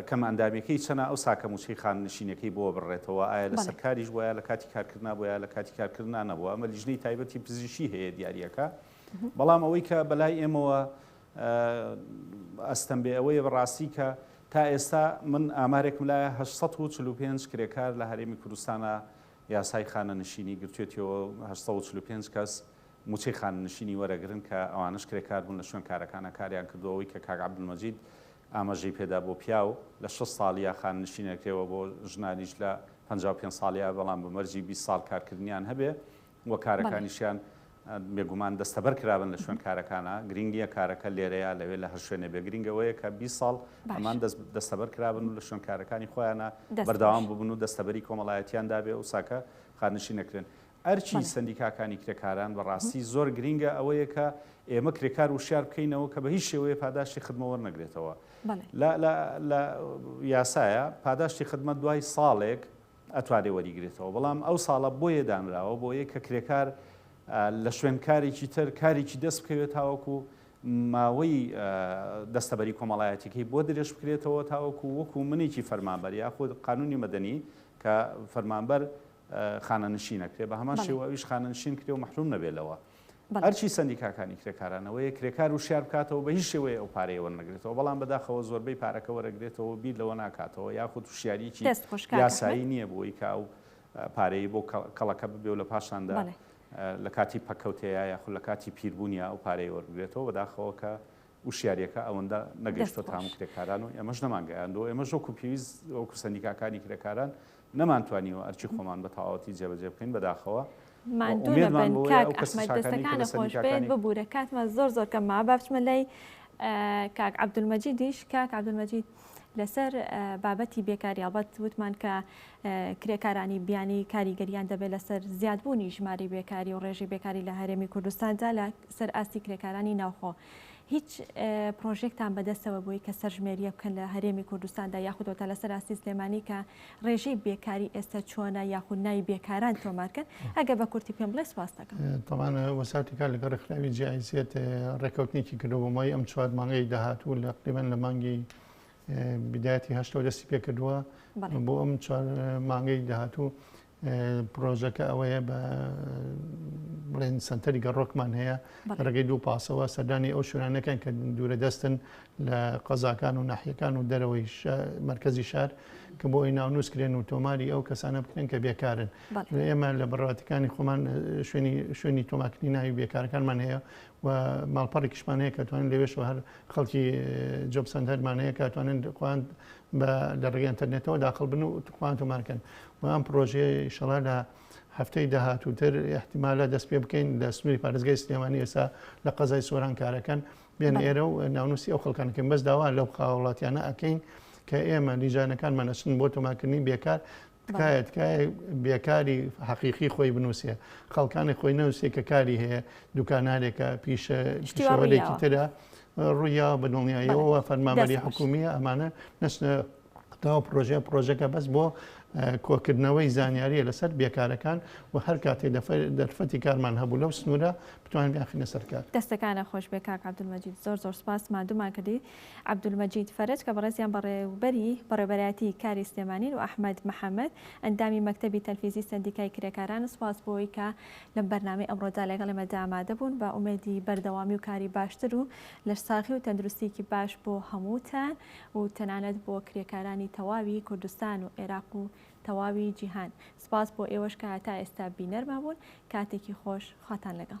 کەم ئەندامیەکەی چەنە ئەو ساکە مووچەی خاننشینەکەی بۆ بڕێتەوە ئایا لەسەر کاریش بۆ یا لە کاتی کارکردنا بۆ یا لە کاتی کارکردنا نەبووە ئەمە لیژنەی تایبەتی پزیشی هەیە دیاریەکە بەڵام ئەوەی کە بەلای ئێمەوە ئەستەم بێ ئەوەیە بە ڕاستی کە تا ئێستا من ئامارێکم لایە هەشت سەد و چل و پێنج کرێکار لە هەرێمی کوردستانا یاسای خانەنشینی گرتوێتیەوە و هەشت سەد و چل و پێنج کەس موچەی خانەنشینی وەرەگرن کە ئەوانەش کرێکار بوون لە شوێن کارەکانا کاریان کردووە ئەوەی کە کاک عەبدولمەجید ئاماژەی پێدا بۆ پیاو لە شەست ساڵیا خانەنشین ئەکرێ و بۆ ژنانیش لە پەنجا و پێنج ساڵیا بەڵام بە مەرجی بیست ساڵ کارکردنیان هەبێ و کارەکانیشیان بێگومان دەستەبەر کرابن لە شوێن کارەکانا، گرینگ نییە کارەکە لێرەیە لەوێ لە هەر شوێنێ بێ گرینگ ئەوەیە کە بیست ساڵ ئەمان دەستەبەر کرابن و لە شوێن کارەکانی خۆیانا بەردەوام ببن و دەستەبەری کۆمەڵایەتیان دابێ و ساکە خانشین نەکرێن. ئەرکی سەندیکاکانی کرێکاران بە ڕاستی زۆر گرینگە ئەوەیە کە ئێمە کرێکار وشیار بکەینەوە کە بە هیچ شێوەیە پاداشتی خدمە وەرنەگرێتەوە لە یاسایە پاداشتی خدمەت دوای ساڵێک، ئەتوانێت وەریگرێتەوە بەڵام ئەو ساڵە بۆیە دانراوە بۆیە کە کرێکار لە شوێن کارێکی تر کارێکی دەست بکەوێت تاوەکو ماوەی دەستەبەری کۆمەڵایەتیکەی بۆ درێژ بکرێتەوە تاوەکو وەکو منێکی فەرمانبەر یاخود قانونی مەدەنی کە فەرمانبەر خانەنشینەکرێ بە هەمان شێوە ئەویش خانەنشین کرێ و مەحروم نەبێت لەوە ئەرکی سەندیکاکانی کرێکاران ئەوەیە کرێکار وشیار بکاتەوە بە هیچ شێوەیە ئەو پارەیە وەرنەگرێتەوە، بەڵام بەداخەوە زۆربەی پارەکە وەرەگرێتەوە و بیر لەوە ناکاتەوە یاخود وشیاریی یاسایی نییە بۆی کە ئەو پارەی بۆ کەڵەکە ببێ و لە پاشاندا لە کاتی پەککەوتەیا یاخود لە کاتی پیربوونیا ئەو پارەیە وەربگرێتەوە، بەداخەوە کە وشیارییەکە ئەوەندە نەگەیشتۆتە هەموو کرێکاران و ئێمەش نەمانگەیاندووە، ئێمەش وەکو پێویست وەکو سەندیکاکانی کرێکاران نەمانتوانیوە ئەرکی خۆمان بە تەواوەتی جێبەجێ بکەین بەداخەوە و ماندوو ئومێدمان نەبن بەوەیە کاک ئەو کەسە ئەحمەد چاکانەی کە لە دەستەکانت خۆش بێت سەندیکاکانی ببورە کاتمان زۆر زۆر کەمە با بچمە لای کاک عەبدولمەجیدیش کاک عەبدولمەجید لەسەر بابەتی بێکاری ئەڵبەت وتمان کە کرێکارانی بیانی کاریگەریان دەبێت لەسەر زیادبوونی ژماری بێکاری و ڕێژی بێکاری لە هەرێمی کوردستاندا لە سەر ئاستی کرێکارانی ناوخۆ هیچ پرۆژێکتان بەدەستەوە بووی کە سەرژمێریە بکەن لە هەرێمی کوردستاندا یاخود وەتا لەسەر ئاستی سلێمانی کە ڕێژەی بێکاری ئێستا چۆنە یاخود ناوی بێکاران تۆمارکەن ئەگە بە کورتی پێم بڵێ سپاست دەکەم. تەبان وەساتی کار لەگەڵ ڕێکخراوی جی ئای زێد ڕێکەوتنێکی کردووە بۆ ماوەی ئەم چوار مانگەی داهاتوو لە تقریبەن لە مانگی بدایەتی هەشتەوە دەستی پێکردووە بۆ ئەم چوار مانگەی داهاتوو پرۆژەکە ئەوەیە بە بڵێن سنتەری گەڕۆکمان هەیە ڕێگەی دوو پاسەوە سەردانی ئەو شوێنانەکەن کە دوورە دەستن لە قەزاکان و ناحیەکان و دەرەوەی مرکزی شار کە بۆ ئەوی ناونووس کرێن و تۆماری ئەو کەسانە بکرێن کە بێکارن ئێمە لە بڕاتەکانی خۆمان شوێنی شوێنی تۆماکردنی ناوی بێکارەکانمان هەیە و ماڵپەڕێکیشمان هەیە کە توانن لەوێش هەر خەڵکی جۆبسەندەرمان هەیە کاتوانن خۆیان بە لە ڕێگەی ئەنتەرنێتەوە داخڵ بن و توخوان تۆمار کەن و ئەم پرۆژەیە ئیشەڵا لە هەفتەی داهاتووتر احتیمالە دەست پێ بکەین لە سنووری پارێزگای سلێمانی ئێستا لە قەزای سۆران کارەکەن بێن ئێرە و ناونوسی ئەو خەڵکانەکەن بەس داوا لەو خاوڵاتیانە ئەکەین کە ئێمە لیژانەکانمان ئەچن بۆ تۆماکردنی بێکار تکایە تکایە بێکاری حەقیقی خۆی بنووسێ خەڵکانی خۆی نەوسێ کە کاری هەیە دوکانارێکە پیشە شتیوارێکی ترە ڕوویا بە دڵنیایەوە فەرمامەری حکومیە ئەمانە نەچنە تاو پرۆژە پرۆژەکە بەس بۆ کۆکردنەوەی زانیاریە لەسەر بێکارەکان و هەر کاتێ دەرفەتی کارمان هەبوو لەو سنوورە بتوانین یاخینە سەرکار دەستەکانە خۆش بێ کاک عبدمەجید زۆر زۆر سپاس مادومان کردی عەبدولمەجید فەرەج کە بەڕێزیان بەڕێوبەری بەڕێوبەرایەتی کاری سلێمانین و ئەحمەد محەمەد ئەندامی مەکتەبی تەلفیزی سەندیکای کرێکاران سوپاس بۆ ئەوەی کە لەم بەرنامەی ئەمڕۆدا لەگەڵ ئێمەدا ئامادە بوون بە ئومێدی بەردەوامی و کاری باشتر و لەشساغی و تەندروستیەکی باش بۆ هەمووتان و تەنانەت بۆ کرێکارانی تەواوی کوردستان و عێراق و تەواوی جیهان سوپاس بۆ ئێوەش کە هەتا ئێستا بینەرمان بوون کاتێکی خۆش خواتان لەگەڵ